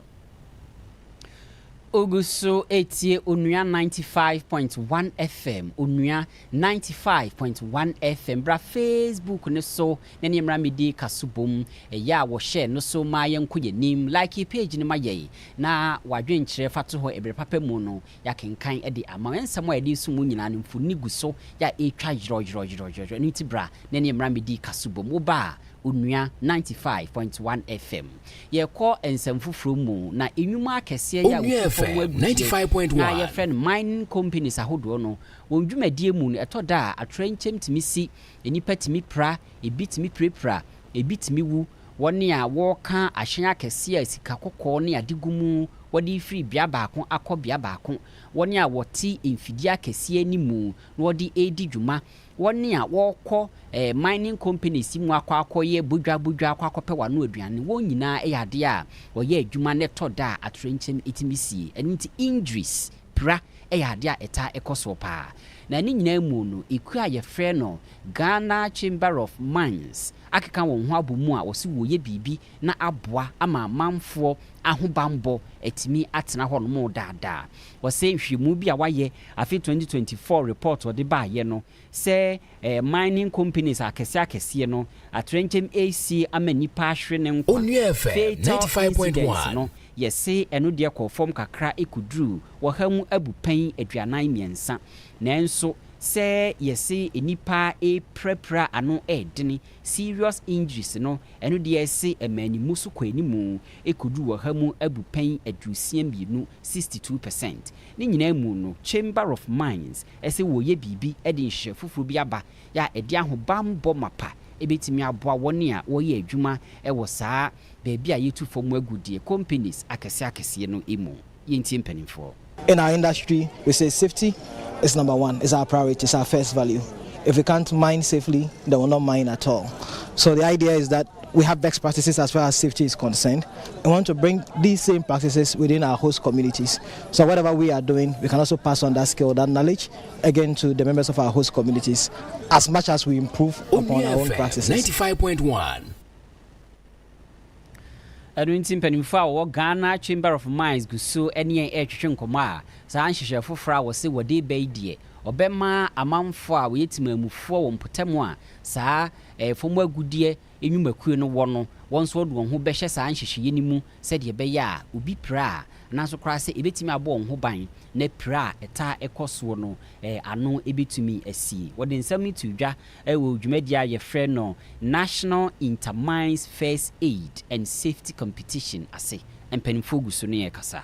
[SPEAKER 1] Ogu so etie Onua ninety five point one FM, Onua ninety five point one FM. Bra Facebook no so na ne mmra medi ka so bom. Ɛyɛ a wɔhyɛ no so ma yɛnkɔ yɛn anim. Like page no ma yɛn. na w'adwenkyerɛ fatohɔ ɛberɛ papa mu no yɛakenkan de ama wo. Nsɛm a yɛde reso mu nyinaa no mfoni gu so yɛ a ɛretwa yerɔyerɔyerɔyerɔ. Ɛno nti bra na ɛne mmra mmɛdi kaso bom. Wo ba a, Onua ninety five point one FM. Yɛrekɔ nsɛm foforɔ mu na nnwuma akɛseɛ yɛ a Onua wɔtu fam FM agu ninety deɛ five
[SPEAKER 2] point na one. yɛfrɛ no
[SPEAKER 1] mining companies ahodoɔ no wɔn dwumadie mu no ɛtɔ da a atoyerɛnkyɛm tumi si, nnipa tumi pira, ɛbi tumi pirapira, ɛbi tumi wu. Wɔn a wɔka ahyɛn akɛseɛ a sika kɔkɔɔ ne ade gu mu, wɔde refiri bea baako akɔ bea baako, wɔn a wɔte mfidie akɛseɛ no mu na wɔde redi dwuma, wɔn a wɔkɔ mining companies mu akɔ akɔyɛ bodwa bodwa akɔ akɔpɛ wɔn ano aduane, wɔn nyinaa yɛ adeɛ a wɔyɛ adwuma na ɛtɔ da a atoyerɛnkyɛm tumi sie. Ɛno nti, injuries. Pira yɛ adeɛ a ɛtaa kɔ soɔ pa ara, na ne nyinaa mu no, ekuo a wɔfrɛ no Ghana Chamber of Mines akeka wɔn ho abɔ mu a wɔse wɔreyɛ biribi na aboa ama amanfoɔ ahobammɔ atumi atena hɔnom daa daa. Wɔse nhwehwɛmu bi a wɔayɛ afe 2024 report a wɔde baeɛ no, sɛ ɛɛ mining companies akɛseɛ akɛseɛ no atrɛnkyɛm ɛɛsi ama nnipa ahwere ne nkwa. Onua FM fatal 95.1.
[SPEAKER 2] incident no yɛse
[SPEAKER 1] ɛno deɛ kɔɔ fam kakra ɛkɔduruu ɔha mu abupɛn aduanan mmiɛnsa nanso sɛ yɛse nnipa ɛɛpirapira ano ɛɛdene serious injuries no ɛno deɛ ɛse ɛmaa ne mu so kɔɔ anim ɛkɔduruu ɔha mu abupɛn aduosia mmienu, 62 percent, ne nyinaa mu no Chamber of Mines sɛ wɔreyɛ biribi de nhyehyɛe foforo bi aba a ɛde ahobammɔ mapa betumi aboa wɔn a wɔyɛ adwuma wɔ saa baabi a yetu fam agudeɛ companies akɛseakɛseɛ no mu. Yɛntie mpanimfoɔ. In our industry
[SPEAKER 17] we say safety is number one is our priority is our first value if we can't mine safely then we will not mine at all so the idea is that we have best practices as far as safety is concerned we want to bring these same practices within our host communities So whatever we are doing we can also pass on that skill, that knowledge again to the members of our host communities as much as we improve upon Onua our own FM practices. 95.1.
[SPEAKER 1] ɛno nti mpanimfoɔ a wɔwɔ ghana chamber of mines gu so ne yɛn retwetwe nkɔmmɔ a saa nhyehyɛ foforɔ a wɔse wɔde reba yi deɛ ɔbɛma amanfoɔ a wɔyɛ timamufoɔ wɔ mpɔtam a saa eh, fam agudeɛ nnwumakuo no wɔ no, wɔn nso wɔde wɔn ho bɛhyɛ saa nhyehyɛeɛ no mu sɛdeɛ ɛbɛyɛ a obi pira a, nanso koraa sɛ ɛbɛtumi abɔ wɔn ho ban na pira a ɛtaa kɔ soɔ no ano bɛtumi asie. Wɔde nsɛm no too dwa wɔ dwumadie a wɔfrɛ no National Inter-Mines First Aid and Safety Competition ase. Mpanimfoɔ gu so ne yɛn rekasa.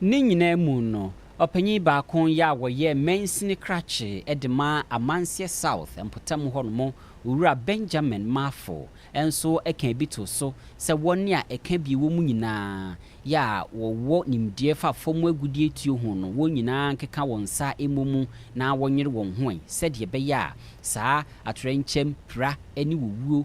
[SPEAKER 18] Ne nyinaa
[SPEAKER 1] mu no, ɔpanyin baako yɛ a wɔyɛɛ mansini krakye de maa Amanseɛ South mpɔtam hɔ nom, Owura Benjamin Marfo nso kaa bi too so sɛ wɔn a ɛka bi wɔ mu nyinaa yɛ a wɔwɔ nimdeɛ fa fam agudeɛ tuo ho no, wɔn nyinaa nkeka wɔn nsa mmɔ mu na wɔnyere wɔn ho ɛ sɛdeɛ ɛbɛyɛ a saa atoyerɛnkyɛm, pira ne owuo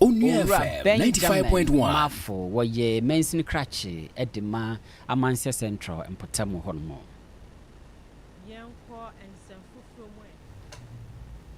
[SPEAKER 19] Owura
[SPEAKER 2] Benjamin Mafo, wɔyɛ
[SPEAKER 1] mansini krakye de ma Amansea Central mpɔtam hɔnom. Yɛnkɔ nsɛm foforɔ mu
[SPEAKER 3] ɛ.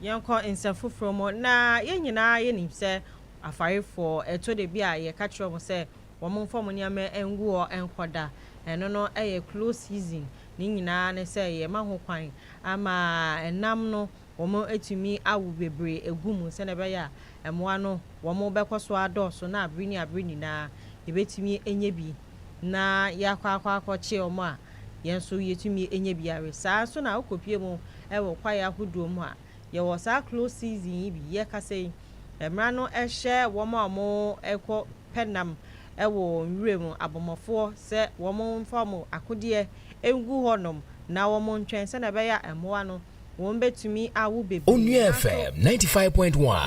[SPEAKER 3] Yɛnkɔ nsɛm foforɔ mu. Na yɛn nyinaa yɛnim sɛ afarefoɔ, ɛtɔ da bi a yɛka kyerɛ wɔn sɛ wɔmfa wɔn nneɛma ngu hɔ nkɔda. Ɛno no yɛ close season. Ne nyinaa ne sɛ yɛma ho kwan ama nam no Wɔatumi awo bebree agu mu sɛnea ɛbɛyɛ a mmoa no wɔbɛkɔ so adɔɔso na bere ne abere nyinaa yɛbɛtumi anya bi na yɛakɔ akɔ akɔkye wɔn a yɛn nso yɛtumi nya bi awe. Saa ara nso na wokɔpue mu wɔ kwaeɛ ahodoɔ mu a, yɛwɔ saa close season yi bi yɛrekasa yi, mmara no hyɛ wɔn a wɔrekɔ pɛ nam wɔ nwura mu, abɔmmɔfoɔ, sɛ wɔmfa wɔn akodeɛ ngu hɔnom na wɔntwɛn sɛnea ɛbɛyɛ a mmoa no wɔn bɛtumi awo bebree na so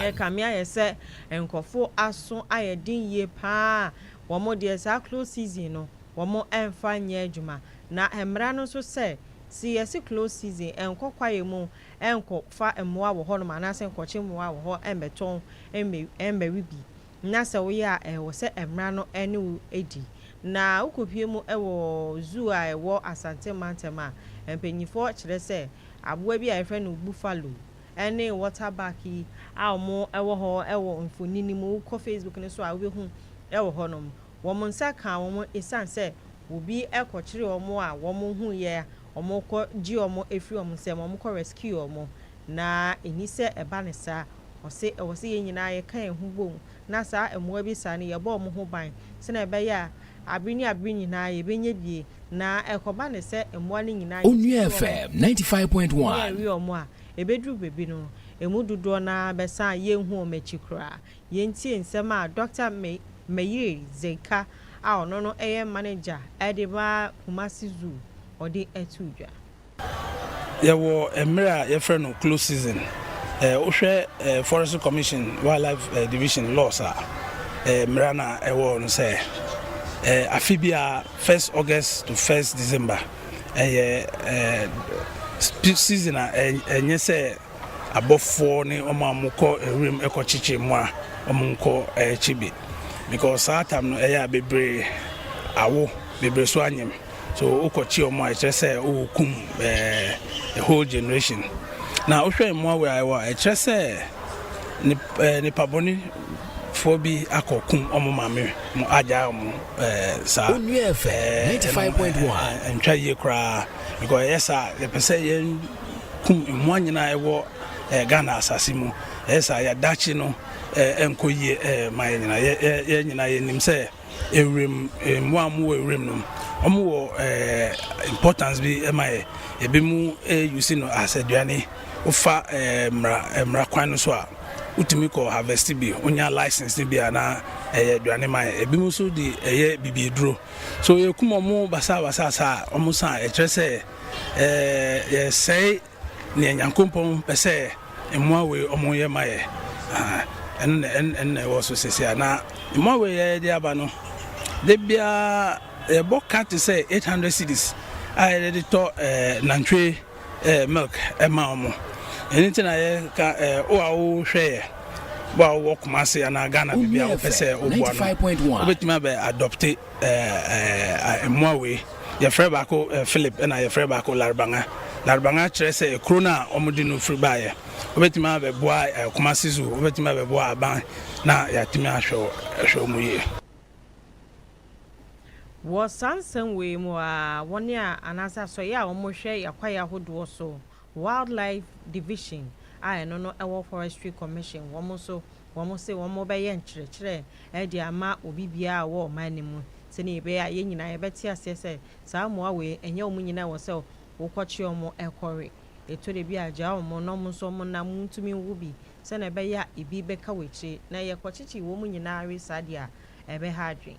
[SPEAKER 2] yɛ kame ayɛ sɛ
[SPEAKER 3] nkurɔfo aso ayɛ den yie paa a wɔn deɛ saa close season no wɔn ɛmfa nyɛ adwuma na mmara no nso sɛ se yɛse close season nkɔ kwaeɛ mu nkɔ fa mmoa wɔ hɔ nom anaasɛ nkɔkye mmoa wɔ hɔ mmɛtɔn mmɛwe bi na sɛ woyɛ a ɛwɔ sɛ mmara no ne wo di, na wokopue mu wɔ zoo a ɛwɔ Asante mantam a, mpanyimfoɔ kyerɛ sɛ aboa bi a yɛfrɛ no buffalo ne water buck yi a wɔwɔ hɔ wɔ mfoni no mu, wokɔ Facebook no so a wobɛhu wɔ hɔnom, wɔn nsa kaa wɔn ɛsiane sɛ obi kɔkyeree wɔn a wɔhuiɛ a wɔkɔgye wɔn firi wɔn nsam, wɔkɔ rescue wɔn Na ɛnni sɛ ɛba no saa. Ɔse ɛwɔ sɛ yɛn nyinaa yɛka yɛn ho bom na saa mmoa bi saa no yɛbɔ wɔn ho ban sɛnea ɛbɛyɛ a abere ne abere nyinaa yɛbɛnya bi na ɛkɔba no sɛ mmoa no nyinaa yɛsisi
[SPEAKER 2] wɔn na yɛwe wɔn a,
[SPEAKER 3] ɛbɛduru baabi no ɛmu dodoɔ no ara bɛsan a yɛnhu wɔn akyi koraa. Yɛntie nsɛm a Dɔkta Meiri Zeka a ɔno no yɛ manager de ma Kumasi Zoo ɔde too dwa.
[SPEAKER 20] Yɛwɔ mmerɛ a yɛfrɛ no close season. Wohwɛ Forestry Commission Wildlife Division laws a, mmara no a ɛwɔ hɔ no sɛ afe biara first August to first December ɛyɛ season a ɛnyɛ sɛ abɔfoɔ ne wɔn a wɔkɔ wuram kɔkyekye mmoa wɔn nkɔ kye bi because saa tam no ɛyɛ a bebree awo bebree so anyem. So wokɔkye wɔn a ɛkyerɛ sɛ wokum eh, a whole generation. Na wohwɛ mmoa wei ayɛ wɔ a ɛkyerɛ sɛ eh, nipa bɔne foɔ bi akɔkum ɔmo maame mo agya ɔmo eh, saa onua
[SPEAKER 2] fm 95.1 ntwa yie koraa
[SPEAKER 20] because ɛyɛ saa yɛpɛ sɛ yɛn kum mmoa nyinaa ɛwɔ eh, ghana asase mu ɛyɛ saa yɛadakye no eh, ɛnkɔ yie eh, ma yɛ nyinaa yɛ nyinaa yɛnim sɛ Ewuram mmoa a wɔwɔ ewuram no, wɔwɔ importance bi ma yɛ. Ebinom use no as aduane. Wofa mmara kwan no so a, wotumi kɔ harvest bi, wonya license no bi a na ɛyɛ aduane ma yɛn. Ebinom nso de ɛyɛ bibiduro. So yɛkum wɔn basabasa saa a, wɔsan a, ɛkyerɛ sɛ yɛsɛe Neɛ Nyankopɔn pɛsɛ mmoa wei ɔmo yɛ ma yɛ ɛno na ɛno na ɛwɔ so sɛsɛ a na mmoa wei yɛ yɛde aba no de biara yɛbɔ ka te sɛ 800 cities a yɛde de tɔ ɛɛ nantwie ɛɛ milk ɛma ɔmo ɛno ti na yɛ ka ɛɛ o a o hwɛ yɛ bɔ a wɔ Kumasi anaa Ghana baabi a wopɛ sɛ woboa no wobɛtumi abɛ adopte mmoa wei. Yɛfrɛ baako Philip ɛna yɛfrɛ baako Laribanga. Laribanga kyerɛ sɛ kuro no a wɔde no firi baeɛ. Wobɛtumi abɛboa eh, Kumasi Zoo, wobɛtumi abɛboa aban na yɛatumi ahwɛ ahwɛ wɔn yie.
[SPEAKER 3] Wɔ saa nsɛm wei mu ara, wɔn a anaasɛ asɔeɛ a wɔhwɛ yɛn akwaeɛ ahodoɔ so Wildlife Division a ɛno no ɛwɔ Forestry Commission wɔn nso wɔn se wɔn bɛyɛ nkyerɛkyerɛ ɛde ama obi biara a ɔwɔ ɔman no mu sɛnea ɛbɛyɛ a yɛn nyinaa yɛbɛte aseɛ sɛ saa mmoa wei ɛnyɛ wɔn nyinaa ɛwɔ sɛ wokɔkye wɔn ɛkɔwe ɛtɔ da bi a gyaa wɔn na wɔn nso wɔn nam ntumi nwo bi sɛnea ɛbɛyɛ a ebi bɛka w'akyire na yɛkɔkyekye wɔn nyinaa we saa deɛ a ɛbɛha adwene.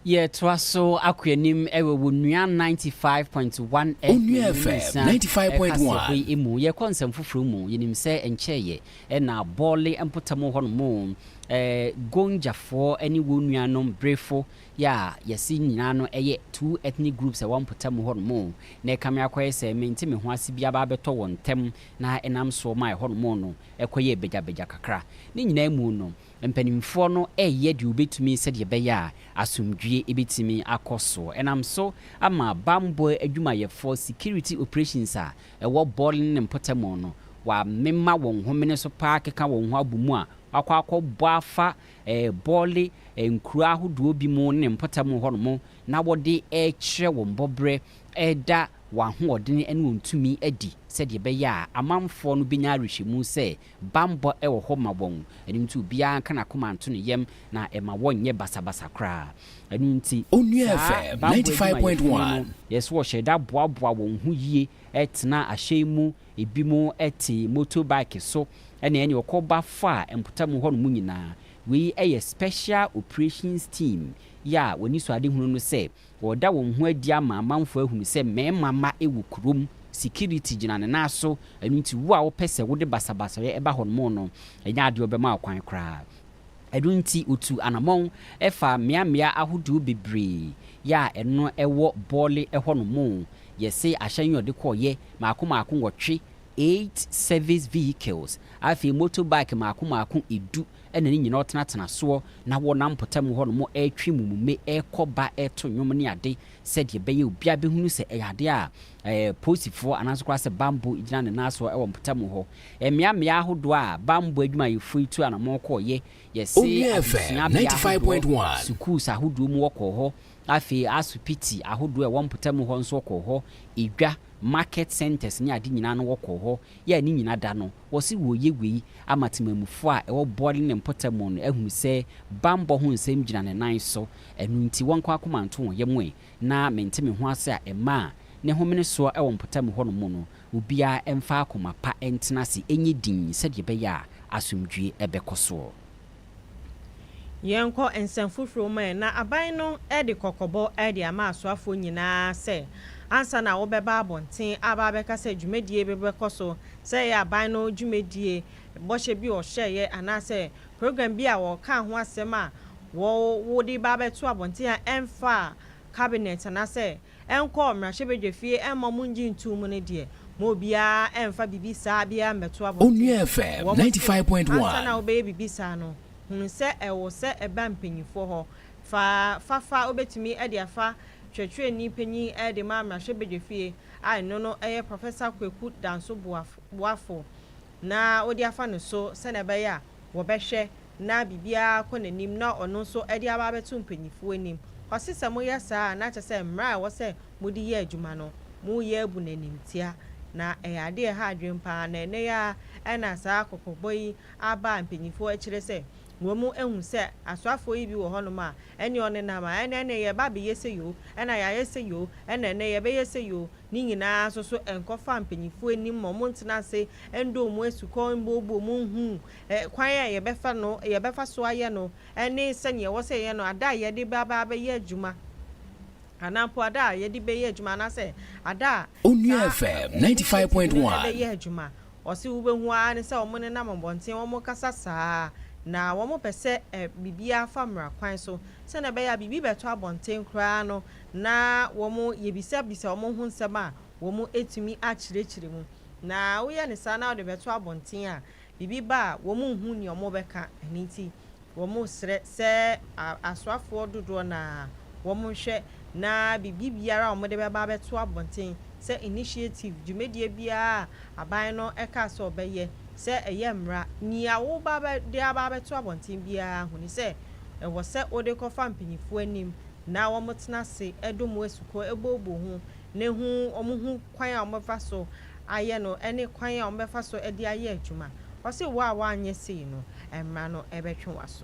[SPEAKER 1] Yɛtoa so akɔ anim wɔ Onua 95.1 FM Onua FM nyinsɛn
[SPEAKER 2] 95.1. kaseɛbɔ yi mu. Yɛkɔ nsɛm
[SPEAKER 1] foforɔ mu. Yɛnim sɛ nkyɛeɛ ɛna Bɔle mpɔtam hɔ nom eh, Gonjafoɔ ne wɔn nuanom Brefo yɛ a yɛse nyinaa no ɛyɛ two ethnic groups a ɛwɔ mpɔtam hɔ nom na ɛkame akɔyɛ sɛ mente me ho ase bi aba abɛtɔ wɔn ntam na ɛnam soɔ ma ɛhɔ nom no ɛkɔyɛɛ bagyabagya kakra. Ne nyinaa mu no, Mpanimfoɔ no reyɛ deɛ wɔbɛtumi sɛdeɛ ɛbɛyɛ a asomdwoeɛ bɛtumi akɔ so. Ɛnam so ama bammɔ adwumayɛfoɔ, security operations, a ɛwɔ Bor ne ne mpɔtamu no, wɔamema wɔn homene so paa akeka wɔn ho abɔ mu a wɔakɔ akɔbɔ afa Bor nkuro ahodoɔ bi mu ne ne mpɔtamu hɔnom na wɔde rekyerɛ wɔn bɔberɛ reda wɔn ahoɔdene ne wɔn tumi adi sɛdeɛ ɛbɛyɛ a amanfoɔ no bɛnya awerɛhyɛmu sɛ Bammɔ wɔ hɔ ma wɔn, ɛno nti obiara nka n'akoma nto ne yam na mma wɔnnyɛ basabasa koraa. Ɛno nti, Onua saa FM
[SPEAKER 2] bammɔ ninety five point adwumayɛfo no no, one. ɛsɛ sɛ wɔhyɛ da
[SPEAKER 1] boaboa wɔn ho yie tena ahyɛn mu, ebinom te motorbike so, ɛna ɛne wɔkɔba fa mpɔtam hɔnom nyinaa. Wei yɛ Special Operations Team yi a wɔn anisoadehunu ne sɛ, Wɔda wɔn ho adi ama amanfoɔ ahunu sɛ mmarima mma wɔ kurom, security gyina ne nan so, ɛno nti wo a wopɛ sɛ wode basabasayɛ ba hɔnom no, ɛnyɛ adeɛ a wɔbɛma wo kwan koraa. Ɛno nti wɔtuu anamɔn faa mmeammea ahodoɔ bebree yɛ a ɛno wɔ Bɔle hɔnom, yɛsee ahyɛn yi a wɔde kɔeɛ mmaako mmaako nwɔtwe, eight service vehicles, afei motorbike mmaako mmaako du, Ɛna ne nyinaa ɔtenatena soɔ, na wɔnam mpɔtam hɔ nom retwe mummume rekɔ ba reto nnwom ne ade, sɛdeɛ ɛbɛyɛ obiara bɛhunu sɛ ɛyɛ adeɛ a Posifoɔ anaa nso koraa sɛ Bambɔ gyina ne nan soɔ wɔ mpɔtam hɔ. Mmea mmea ahodoɔ a Bambɔ adwumayɛfoɔ yi tuu anamɔn kɔeɛ, yɛse adesuabea ahodoɔ,
[SPEAKER 2] sukuus ahodoɔ
[SPEAKER 1] mu wɔkɔɔ hɔ, afei asopiti ahodoɔ a ɛwɔ mpɔtam hɔ nso wɔkɔɔ hɔ, edwa, market centres ne ade nyinaa no wɔkɔɔ hɔ, yɛ a ne nyina da no, Wɔse wɔreyɛ wei ama temanmufoɔ a ɛwɔ Bɔɔle ne mpɔtamu no ahunu sɛ bammɔ ho nsɛm gyina ne nan so, ɛno nti wɔnkɔ akoma nto wɔn yam ɛ, na mente me ho ase a ɛma a ne homene soɔ wɔ mpɔtamu hɔnom no, obiara mfa akoma pa ntena ase nyɛ dinn sɛdeɛ ɛbɛyɛ a asomdwoeɛ bɛkɔ soɔ. Yɛnkɔ
[SPEAKER 3] nsɛm foforɔ mu ɛ. Na aban no de kɔkɔbɔ de ama asoafoɔ nyinaa sɛ ansa na wɔbɛba abɔnten aba abɛka sɛ dwumadie bi bɛkɔ so, sɛ ɛyɛ aban no dwumadie, bɔhyɛ bi a wɔhyɛeɛ anaasɛ program bi a wɔkaa ho asɛm a wɔde ba abɛto abɔnten a ɛmfaa cabinet anaasɛ ɛnkɔɔ mmarahyɛbadwafie ɛmmɔ mo ngye ntoo mu no deɛ, mo obiara ɛmfa bibi saa biara mmɛto
[SPEAKER 2] abɔnten.
[SPEAKER 3] Onua FM Wɔ mo se, 95.1. ansa na wobɛyɛ bibi
[SPEAKER 2] saa
[SPEAKER 3] no, hunu sɛ ɛwɔ sɛ ɛba mpanyinfoɔ hɔ. Fa fa fa wobɛtumi de afa kyerɛkyerɛni panyin de ma mmarahyɛbadwafie a ɛno no yɛ Professor Kweku Danso Boafo na wode afa no so sɛnea ɛbɛyɛ a, wɔbɛhwɛ na biribiara kɔ n'anim na ɔno nso de aba abɛto mpanyimfo anim. Ɔse sɛ moyɛ saa a, na kyerɛ sɛ mmara a ɛwɔ sɛ mode yɛ adwuma no, moreyɛ abu no animtia. Na ɛyɛ ade a ɛha adwene paa, na ɛnnɛ yi ara na saa kɔkɔbɔ yi aba a mpanyimfo kyerɛ sɛ wɔahu sɛ asoafoɔ yi bi wɔ hɔnom a ɛne ɔnenam a ɛne ɛne yɛba abɛyɛ sei o, ɛna yɛayɛ sei o, ɛna ɛnnɛ yɛbɛyɛ sei o. Ne nyina ara so so nkɔfa mpanyimfo anim ma wɔntena ase ndɔ wɔn asukɔ, mbuebue wɔn nhu ɛ, kwan a yɛbɛfa no, yɛbɛfa so ayɛ no ne sɛnea ɛwɔ sɛ yɛyɛ no ada a yɛde bɛaba abɛyɛ adwuma anaa mpo ada a yɛde bɛyɛ adwuma anaasɛ ada a Onua saa FM ninety five initiative
[SPEAKER 2] point no one. bɛyɛ adwuma.
[SPEAKER 3] Ɔse wobɛhu ara ne sɛ wɔnenam mmɔnten, wɔkasa saa ara, na wɔpɛ sɛ ɛ, biribiara fa mmara kwan so. Sɛnea ɛbɛyɛ a biribi bɛtɔ abɔnten koraa no, na wɔn yɛbisabisa wɔn ho nsɛm a wɔn ɛtumi akyerɛkyerɛ mu na woyɛ no saa na wode bɛto abɔnten a biribi ba a wɔn nhu nea wɔn bɛka ɛno nti wɔn srɛ sɛ asoafoɔ dodoɔ no ara wɔn nhwɛ na biribi biara a wɔn de bɛba abɛto abɔnten sɛ initiative dwumadie biara a aban no ɛkaa sɛ wɔbɛyɛ sɛ ɛyɛ mmra nea wo ba de aba abɛto abɔnten biara hunu sɛ ɛwɔ sɛ wode kɔfa mpaninfoɔ anim na wɔtena ase dom wɔn asukɔ booboo ho na hu wɔn ho kwan a wɔbɛfa so ayɛ no ne kwan a wɔbɛfa so de ayɛ adwuma. Ɔse, Wo a woanyɛ sei no, mmara no bɛtwe w'aso.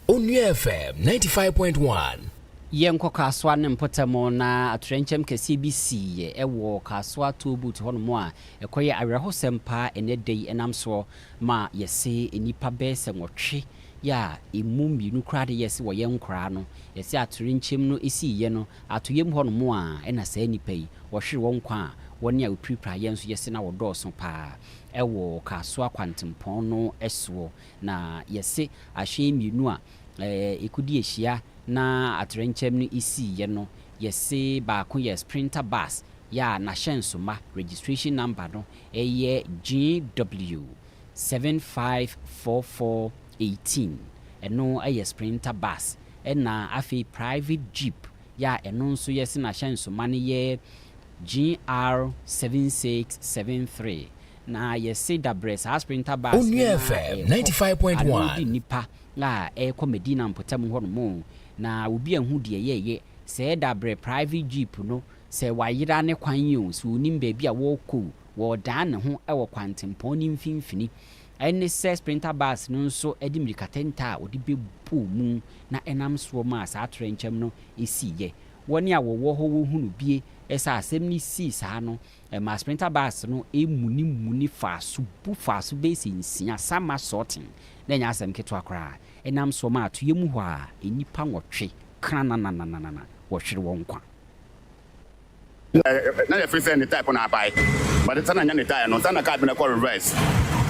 [SPEAKER 2] Onua FM ninety five point one. Yɛnkɔ
[SPEAKER 1] Kasoa no mpɔtam na atoyerɛnkyɛm kɛseɛ bi siiɛ wɔ Kasoa toll booth hɔnom a ɛkɔyɛ awerɛhosɛm paa ɛnnɛ da yi ɛnam soɔ ma yɛse nnipa bɛyɛ sɛ nwɔtwe yɛ a ɛmu mmienu koraa de yɛse wɔyɛ nkoraa no, yɛse atorenkyɛm no sii yɛ no atoyɛm hɔ nom a ɛna saa nnipa yi wɔhwere wɔn nkwa a wɔne a wɔpirapira yɛ nso yɛse na wɔdɔɔso paa ɛwɔ Kasoa kwantempɔn no soɔ na yɛse ahyɛn mmienu a ɛkodi ahyia na atorenkyɛm no sii yɛ no yɛse baako yɛ sprinter bus yɛ a n'ahyɛnsoma registration number no yɛ GW seven five four four eighteen, ɛno yɛ Sprinter bus, ɛna afei private jeep yɛ a ɛno nso yɛ se n'ahyɛnsoma no yɛ GR seven six seven three, na yɛ se dabrɛ saa Sprinter bus no na ɛkɔ,
[SPEAKER 2] ano de nnipa a
[SPEAKER 1] ɛrekɔ Medina mpɔtam hɔ nom, na obi anhu deɛ yɛyɛ, sɛɛ dabrɛ private jeep no Sɛ wayera ne kwan yi o, sɛ ɔnim baabi a ɔrekɔ o, ɔredan ne ho wɔ kwantempɔn no mfimfini. Ɛne sɛ Sprinter Bus no nso de mmirikatɛntɛ a ɔde bɛbɔɔ mu na ɛnam soɔ maa saa atoyerɛnkyɛm no siiɛ. Wɔn a wɔwɔ hɔ wɔhunu bie sɛ asɛm no sii saa no, ɛmaa Sprinter Bus no munimunii faa so bu faa so bɛsɛ nsia, Sama Sorting, na ɛnyɛ asɛm ketewa koraa, ɛnam soɔ maa atoyɛ mu hɔ a nnipa nwɔtwe krananananana wɔhwere wɔn nkwa.
[SPEAKER 21] Na yɛfrɛ sɛ ne type no abae but sɛnea nya ne tyre no sɛnea car bi no kɔ reverse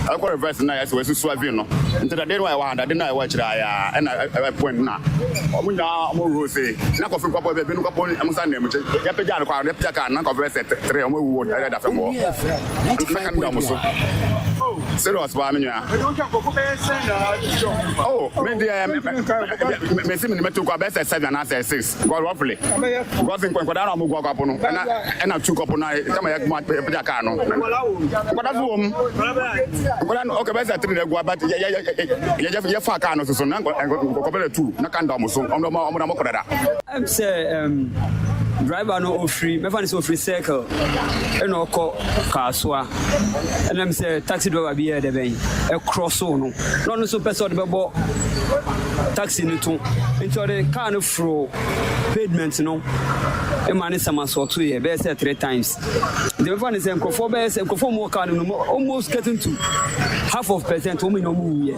[SPEAKER 21] ɛkɔ reverse na yɛsɛ wɔasi swerving no nti dade no a ɛwɔ ha dade no a ɛwɔ akyire ayɛ a ɛna ɛpoint na wɔn nyinaa wɔn roll se na kɔfin kɔpɔ bɛ binom kɔpɔ wɔn nsa nam kye yɛpagya no kɔ a yɛpagya car na kɔfin sɛ tere wɔn awu wɔ ɛda fam hɔ na kan da wɔn so serious paa me nua oh me deɛ mesi me nimatu kɔ abɛsɛ seven anaasɛ six Because what play? Because in Kwankwada na Mugu Akwapo no, and I and I took up on I come here come put a car no. But that's home. But then okay, best three na gua but yeah yeah yeah yeah yeah fa car no so so na ko ko bele two na kan da mo so. Omo mo omo na mo kodada. Em say
[SPEAKER 22] um driver no ofiri mɛfa no sɛ ofiri circle ɛna ɔkɔ kasoa ɛnam sɛ taxi driver bi yɛ dɛ bɛn ɛkorɔ so no na ɔno nso pɛ sɛ ɔde bɛbɔ taxi no to nti ɔde kaa no foro pavement no ma ne samasoɔtoeɛ bɛyɛ sɛ three times nti bɛfa ne sɛ nkurɔfoɔ bɛyɛ sɛ nkurɔfoɔ mu wɔ kaa no no almost getting to half of percent wɔn nyinaa wɔn wuyɛ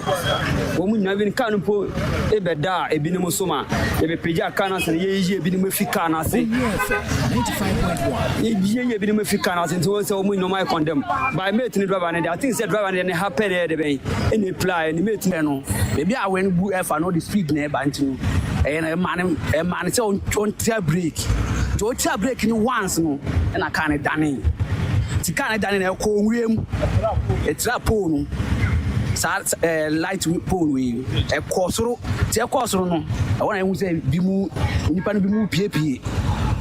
[SPEAKER 22] wɔn nyinaa bi kaa no mpo ebɛda a ebinom so ma yɛbɛpagya kaa no ase no yɛyiyi ebinom efi kaa no ase
[SPEAKER 2] yɛyiyi
[SPEAKER 22] ebinom efi kaa no ase nti wɔn sɛ wɔn nyinaa wɔn ayɛ condemn by mate ne driver ne de I think sɛ driver no deɛ ne ha pɛ na ɛyɛ dɛ bɛn ɛna epira ɛne mate no. Ɛno baabi a awɛn no bu ɛfa no ɔde speed na ɛba nti no ɛyɛ no ɛma no ɛma no sɛ ɔntia break nti ɔtia break no once no ɛna car no dane nti car no dane na ɛkɔ nwura mu ɛtira pole no saa ɛɛ light pole no yi ɛkɔ soro nti ɛkɔ soro no ɛwɔ na ehu sɛ bi mu nipa no bi mu piepie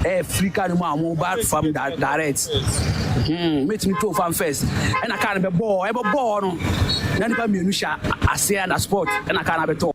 [SPEAKER 22] ɛɛ firi car no mu a wɔn ba fam direct. Hmm, mɛtumi too fan first ɛna kaa no bɛbɔɔ ɛbɛbɔɔ no na nipa mmienu hyɛ aseɛ na sport ɛna kaa no abɛtɔ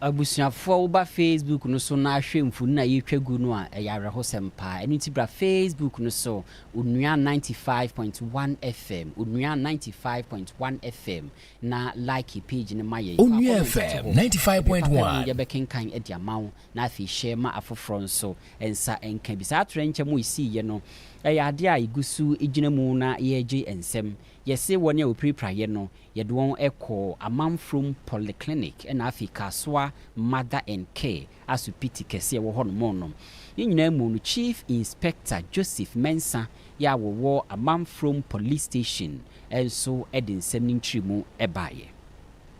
[SPEAKER 1] abusuafoɔ woba facebook no so na ahwɛ mfoni na yɛtwa gu no a ɛyɛ awerɛhosɛm paa ɛno nti bra facebook no so onua 95.1 fm onua 95.1 fm na like page no ma yɛn onua
[SPEAKER 2] fm 95.1
[SPEAKER 1] yɛbɛkenkan
[SPEAKER 2] de
[SPEAKER 1] ama wo na afei hyɛ ma afoforɔ nso nsa nka bi. Saa atoyerɛnkyɛm a ɛsiiɛ no yɛ adeɛ a yɛgu so gyina mu na yɛregye nsam. Yɛse wɔn a wɔpirapraeɛ no, yɛde wɔn kɔɔ Amanfrom Polyclinic na afei Kasoa Mother and Care asopiti kɛseɛ wɔ hɔnom no. Ne nyinaa mu no, Chief Inspector Joseph Mensah yi a wɔwɔ Amanfrom Police Station nso de nsɛm ne nkyeremu baeɛ.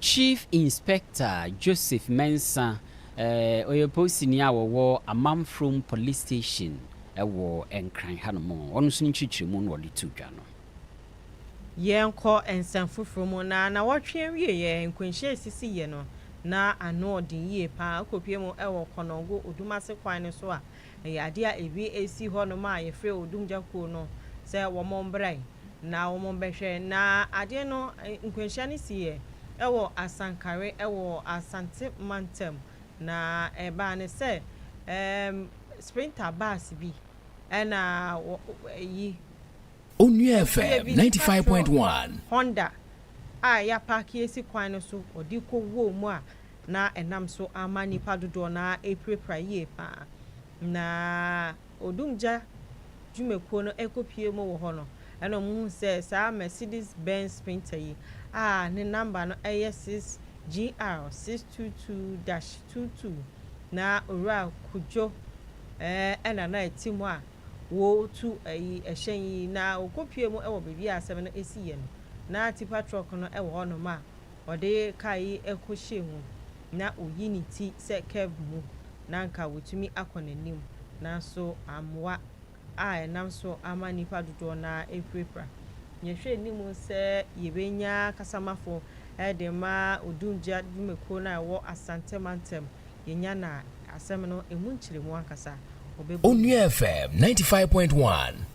[SPEAKER 1] Chief Inspector Joseph Mensah, ɔyɛ polisini a ɔwɔ Amanfrom Police Station wɔ Nkran hanom, ɔno nso ne nkyerɛkyerɛmu na ɔde too dwa no.
[SPEAKER 3] Yɛnkɔ nsɛm foforɔ mu, na nawɔtwe awieɛ nkwanhyia a ɛsisiiɛ no, na ano ɔden yie pa ara, ɛkɔpuee mu wɔ Kɔnɔngo Odumase kwan no so a Ɛyɛ adeɛ a ebi si hɔ nom a yɛfrɛ odumgya kuo no sɛ wɔn mmra na wɔn mmɛhwɛ. Na adeɛ no nkwanhyia no siiɛ wɔ Asankare wɔ Asante mantam. Na ɛbaa no sɛ ɛɛm sprinter bus bi ɛna wɔ ɛyi. Onua FM
[SPEAKER 2] ninety five point one. Honda
[SPEAKER 3] a yapaake asi kwan no so ɔde rekɔ wuo mu a na ɛnam so ama nnipa dodoɔ no ara apirapira yie pa ara. Na odumgya dwumakuo no rekɔpue mu wɔ hɔ no, ɛnna wɔhunu sɛ saa Mercedes Benz Sprinter yi a ne namba no yɛ 6GR 622-22 na Owura Kudjo na na ɛte mu a wɔretu ayi ɛhyɛn yi, na wɔkɔpue mu wɔ baabi a asɛm no siiɛ no, na tipa trɔk no wɔ hɔnom a ɔde kar yi kɔhyɛɛ mu na oyi ne ti sɛ curve mu na anka watumi akɔ n'anim nanso amoa a ɛnam so ama nnipa dodoɔ no ara apirapira. Yɛhwɛ anim sɛ yɛbɛnya kasamafo de ma odumgya dwumakuo no a ɛwɔ Asante mantam. Yɛnya no a, asɛm no ɛmu nkyerɛmu ankasa ɔbɛbɔ mu. Onua FM ninety five
[SPEAKER 2] point one.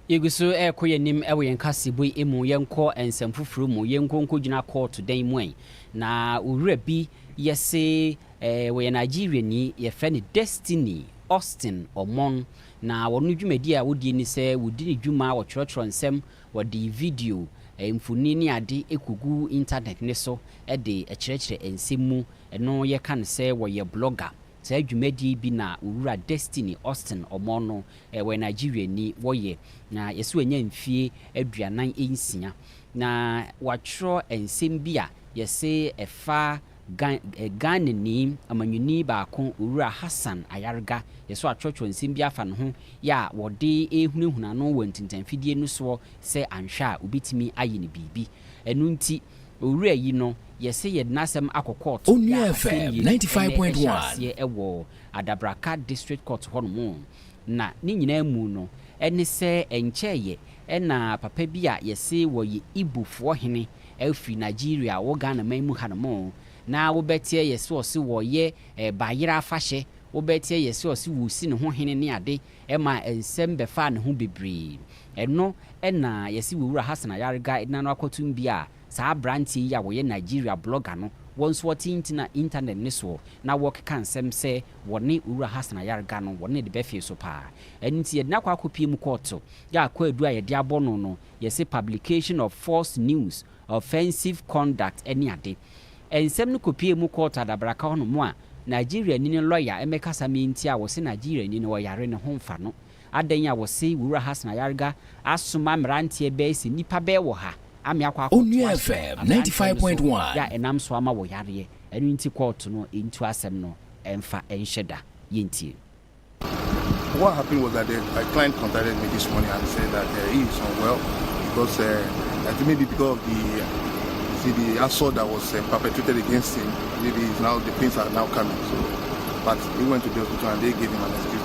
[SPEAKER 1] Yegu so rekɔ yɛn anim wɔ yɛn kaseɛbɔ yi mu, yɛnkɔ nsɛm foforɔ mu, yɛnkɔ nkɔgyina kɔɔto dan mu ɛ. Na owura bi yɛ se eh, wɔyɛ Nigeriani, yɛfrɛ no Destiny Austin Omon. Na wɔn no dwumadi a wɔdie ne sɛ wɔdi ne dwuma, wɔtwerɛtwerɛ nsɛm, wɔde video, eh, mfoni ne ade kɔgu intanɛt no so de kyerɛkyerɛ nsɛm mu. Ɛno yɛka no sɛ wɔyɛ blogger. Saa dwumadie yi bi na Owura Destiny Austin Omoh no, ɔyɛ Nigeriani, wɔyɛ, na yɛse wanya mfie aduanan nsia. Na watwerɛ nsɛm bi a yɛse ɛfa Ghanani amanyɔni baako Owura Hassan Ayarga, yɛse watwerɛtwerɛ nsɛm bi afa ne ho yɛ a wɔde ɛrehunahuna no wɔ ntintanfidie no soɔ sɛ anhwɛ a ɔbɛtumi ayɛ no biribi. Ɛno nti. Owura yi no yɛse yɛde n'asɛm akɔ court ya asɛm
[SPEAKER 2] mmienu ɛnɛ ɛhyɛ aseɛ ɛwɔ
[SPEAKER 1] Adabraka district court hɔ nom na ne nyinaa mu no ɛne sɛ ɛnkyɛɛyɛ ɛna papa bi a yɛse wɔyɛ Igbo foɔ hene ɛfiri Nigeria wɔ Ghana man mu ha nom na wobɛteɛ yɛse ɔse wɔyɛ bayerɛ afahyɛ wobɛteɛ yɛse ɔse wɔsi ne ho hene ne ade ɛma ɛnsɛm bɛfaa ne ho bebree Ɛno na yɛse Wowura Hassan Ayariga de n'ano akɔtom bi a saa abranteɛ yi a wɔyɛ Nigeria blogger no wɔ nso ɔte ntena internet no soɔ na wɔkeka nsɛm sɛ wɔne Owura Hassan Ayariga no wɔne no de bɛfee so paa. Ɛno nti yɛde no akɔ akɔpie mu kɔɔto a kwaadu a yɛde abɔ no no yɛse publication of false news, offensive conduct ne ade. Nsɛm no kɔpiee mu kɔɔto adabraka hɔ nom a Nigeriani no lɔya mmɛkasa mentia wɔse Nigeriani no ɔyare ne ho mfa no Adɛn a wɔse Wura Hassan Ayarga asoma mmeranteɛ bɛɛ sɛ nnipa bɛɛ wɔ ha ame akɔ akɔto ahyɛ aberanteɛ
[SPEAKER 2] no so yɛ a ɛnam so ama
[SPEAKER 1] wɔ yareɛ, ɛno nti kɔɔto no ntu asɛm no mfa nhyɛ da. Yɛntie.
[SPEAKER 5] What happened was that the my client contacted me this morning and said that uh, he is unwell because uh, I think maybe because of the see the assault that was uh, perpetrated against him. Maybe now the pains are now coming. So, but he went to the hospital and they gave him an excuse.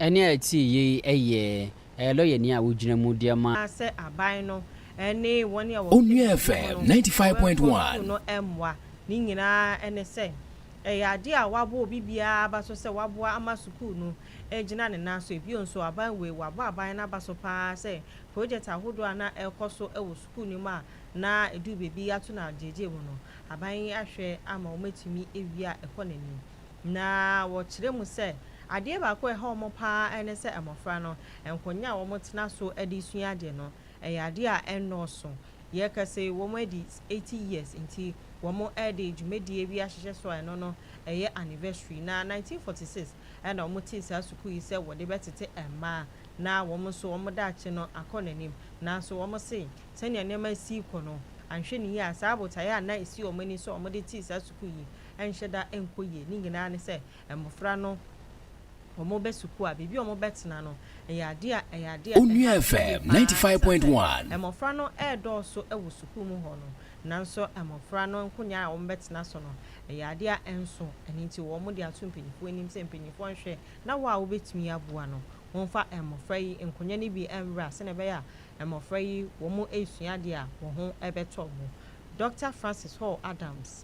[SPEAKER 1] ɛne a ɛte yie yi yɛ ɛyɛ lɔyani a wogyina mu deɛ ma. sɛ aban no
[SPEAKER 3] ne wɔn a wɔwɔ Onua FM ninety five
[SPEAKER 2] point one. no mmoa.
[SPEAKER 3] Ne nyinaa ne sɛ, ɛyɛ adeɛ a wɔabɔ obi biara aba so sɛ wɔaboa ama sukuu no agyina ne nan so. Bio nso, aban wei, wɔabɔ aban no aba so pa ara sɛ projɛt ahodoɔ a na ɛrekɔ so wɔ sukuu no mu a na ɛduru baabi ato no agyegyeɛ mu no, aban yi ahwɛ ama wɔatumi awie a ɛkɔ n'anim. Na wɔkyerɛ mu sɛ, adeɛ baako a ɛha wɔn pa ara ne sɛ mmɔfra no, nkonnwa a wɔtena so de resua adeɛ no, ɛyɛ adeɛ a ɛnnɔɔso. Yɛka sɛ wɔadi eighty years nti, wɔde dwumadie bi ahyehyɛ so a ɛno no, ɛyɛ anniversary. Na nineteen forty six na wɔtee saa sukuu yi sɛ wɔde bɛtete mmaa na wɔn nso wɔn daakye no akɔ n'anim. Nanso wɔse sɛdeɛ nneɛma resi rekɔ no, anhwɛ ne yie a, saa botaeɛ a na ɛsi wɔn ani sɛ wɔde tee saa sukuu yi ɛnhyɛ da nkɔ yie. Ne nyinaa ne sɛ mmɔfra no wɔbɛ sukuu a baabi a wɔbɛtena no ɛyɛ adeɛ a ɛyɛ adeɛ a ɛha yie paa ɛsiane
[SPEAKER 2] sɛ mmɔfra no
[SPEAKER 3] redɔɔso wɔ sukuu mu hɔ no nanso mmɔfra no nkonnwa a wɔbɛtena so no ɛyɛ adeɛ a ɛnso ɛno nti wɔde ato mpanimfoɔ anim sɛ mpanimfoɔ nhwɛ na wɔ a wɔbɛtumi aboa no wɔmfa mmɔfra yi nkonnwa no bi nwura sɛdeɛ ɛbɛyɛ a mmɔfra yi wɔresua adeɛ a wɔn ho bɛtɔ wɔn Dɔkta Francis Hall Adams.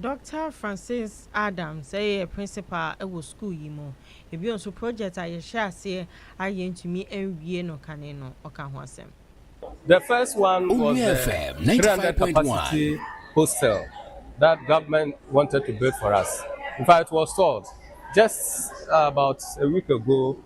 [SPEAKER 3] Dɔkta Francis Adams yɛ principal wɔ sukuu yi mu. Bio nso, project a yɛhyɛɛ aseɛ a yɛantumi anwie no kane no, ɔka ho asɛm. The
[SPEAKER 23] first one was the 300 capacity hostel that government wanted to build for us. In fact, it was stalled just about a week ago.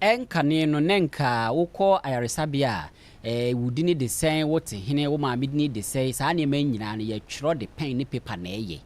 [SPEAKER 3] Ɛnkane
[SPEAKER 1] no na nka wokɔ ayaresabea a, eh, wo dini de sɛn, wo te hene, wo maame dini de sɛn, saa nneɛma yi nyinaa no yɛtwerɛ de pɛn ne paper na ɛyɛ.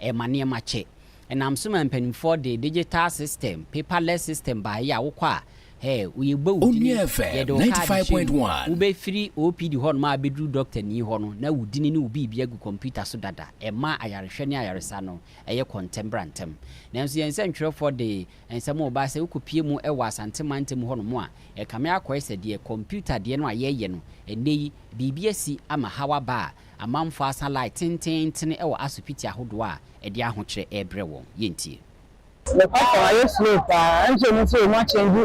[SPEAKER 1] Ɛma nneɛma kyɛ. Ɛnam so ma mpanimfoɔ de digital system, paperless system baeɛ a wokɔ a, eh, yɛbɔ wo dini, Onua FM yɛde wo kaade
[SPEAKER 2] hyɛ mu, 95.1. wobɛfiri
[SPEAKER 1] OPD hɔnom a abɛduru dɔktani hɔ no na wo dini ne wo biribi agu kɔmputa so dada. Ɛma ayarehwɛ ne ayaresa no ɛyɛ kɔ ntɛm bra ntɛm. Nanso yɛn nsɛntwerɛfoɔ de nsɛm a ɔbaa sɛ wokɔpie mu wɔ Asante mantam hɔ nom a, ɛkame akɔyɛ sɛ deɛ kɔmputa deɛ no a yɛreyɛ no ɛnnɛ yi biribi asi ama haw aba a amanfoɔ asa line tenteenten wɔ asopiti ahodoɔ a ɛde ahokyerɛ rebrɛ wɔn. Yɛntie. Nokwasɛm
[SPEAKER 6] ayɛ slow paa ɛnso ɔmo se ɔmo akyɛngyi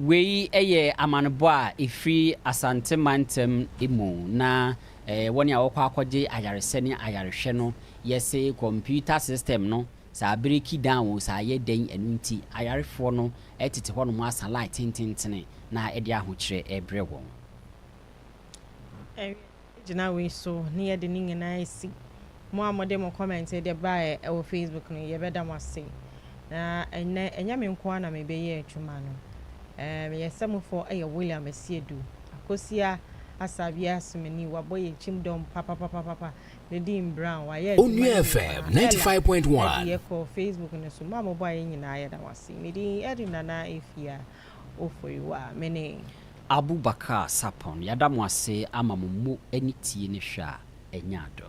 [SPEAKER 1] Wei yɛ amanebɔ a ɛfiri Asante mantam mu na wɔn a wɔkɔ akɔgye ayaresɛ ne ayarehwɛ no yɛ se kɔmputa system no sɛ abereki down o sɛ ayɛ dɛn ɛno nti ayarefoɔ no tete hɔnom asa line tententene na ɛde ahokyerɛ ɛrebrɛ wɔn.
[SPEAKER 3] gyina wei so ne yɛde ne nyinaa asi. Mo a mode mo kɔmɛnte de baeɛ wɔ Facebook no, yɛbɛda mo ase. Na ɛnnɛ, ɛnyɛ me nko ara na mereyɛ adwuma no. Ɛɛ, me yɛsɛmufoɔ yɛ William Asiedu, Akosua Asabea Asumani, wabɔ yɛn kyim dɔm papapapapa, Nadine Brown, wayɛ adwuma no nyinaa, Ella,
[SPEAKER 2] Eddie kɔ Facebook
[SPEAKER 3] no so, mo a mobɔeɛ nyinaa yɛda mo ase. Me din Eddy Nana Afia. Ofori wa, me ne. Abu Bakar
[SPEAKER 1] Sarpong, yɛada mo ase ama mo mu ani tie ne hwɛ a ɛnya adɔ.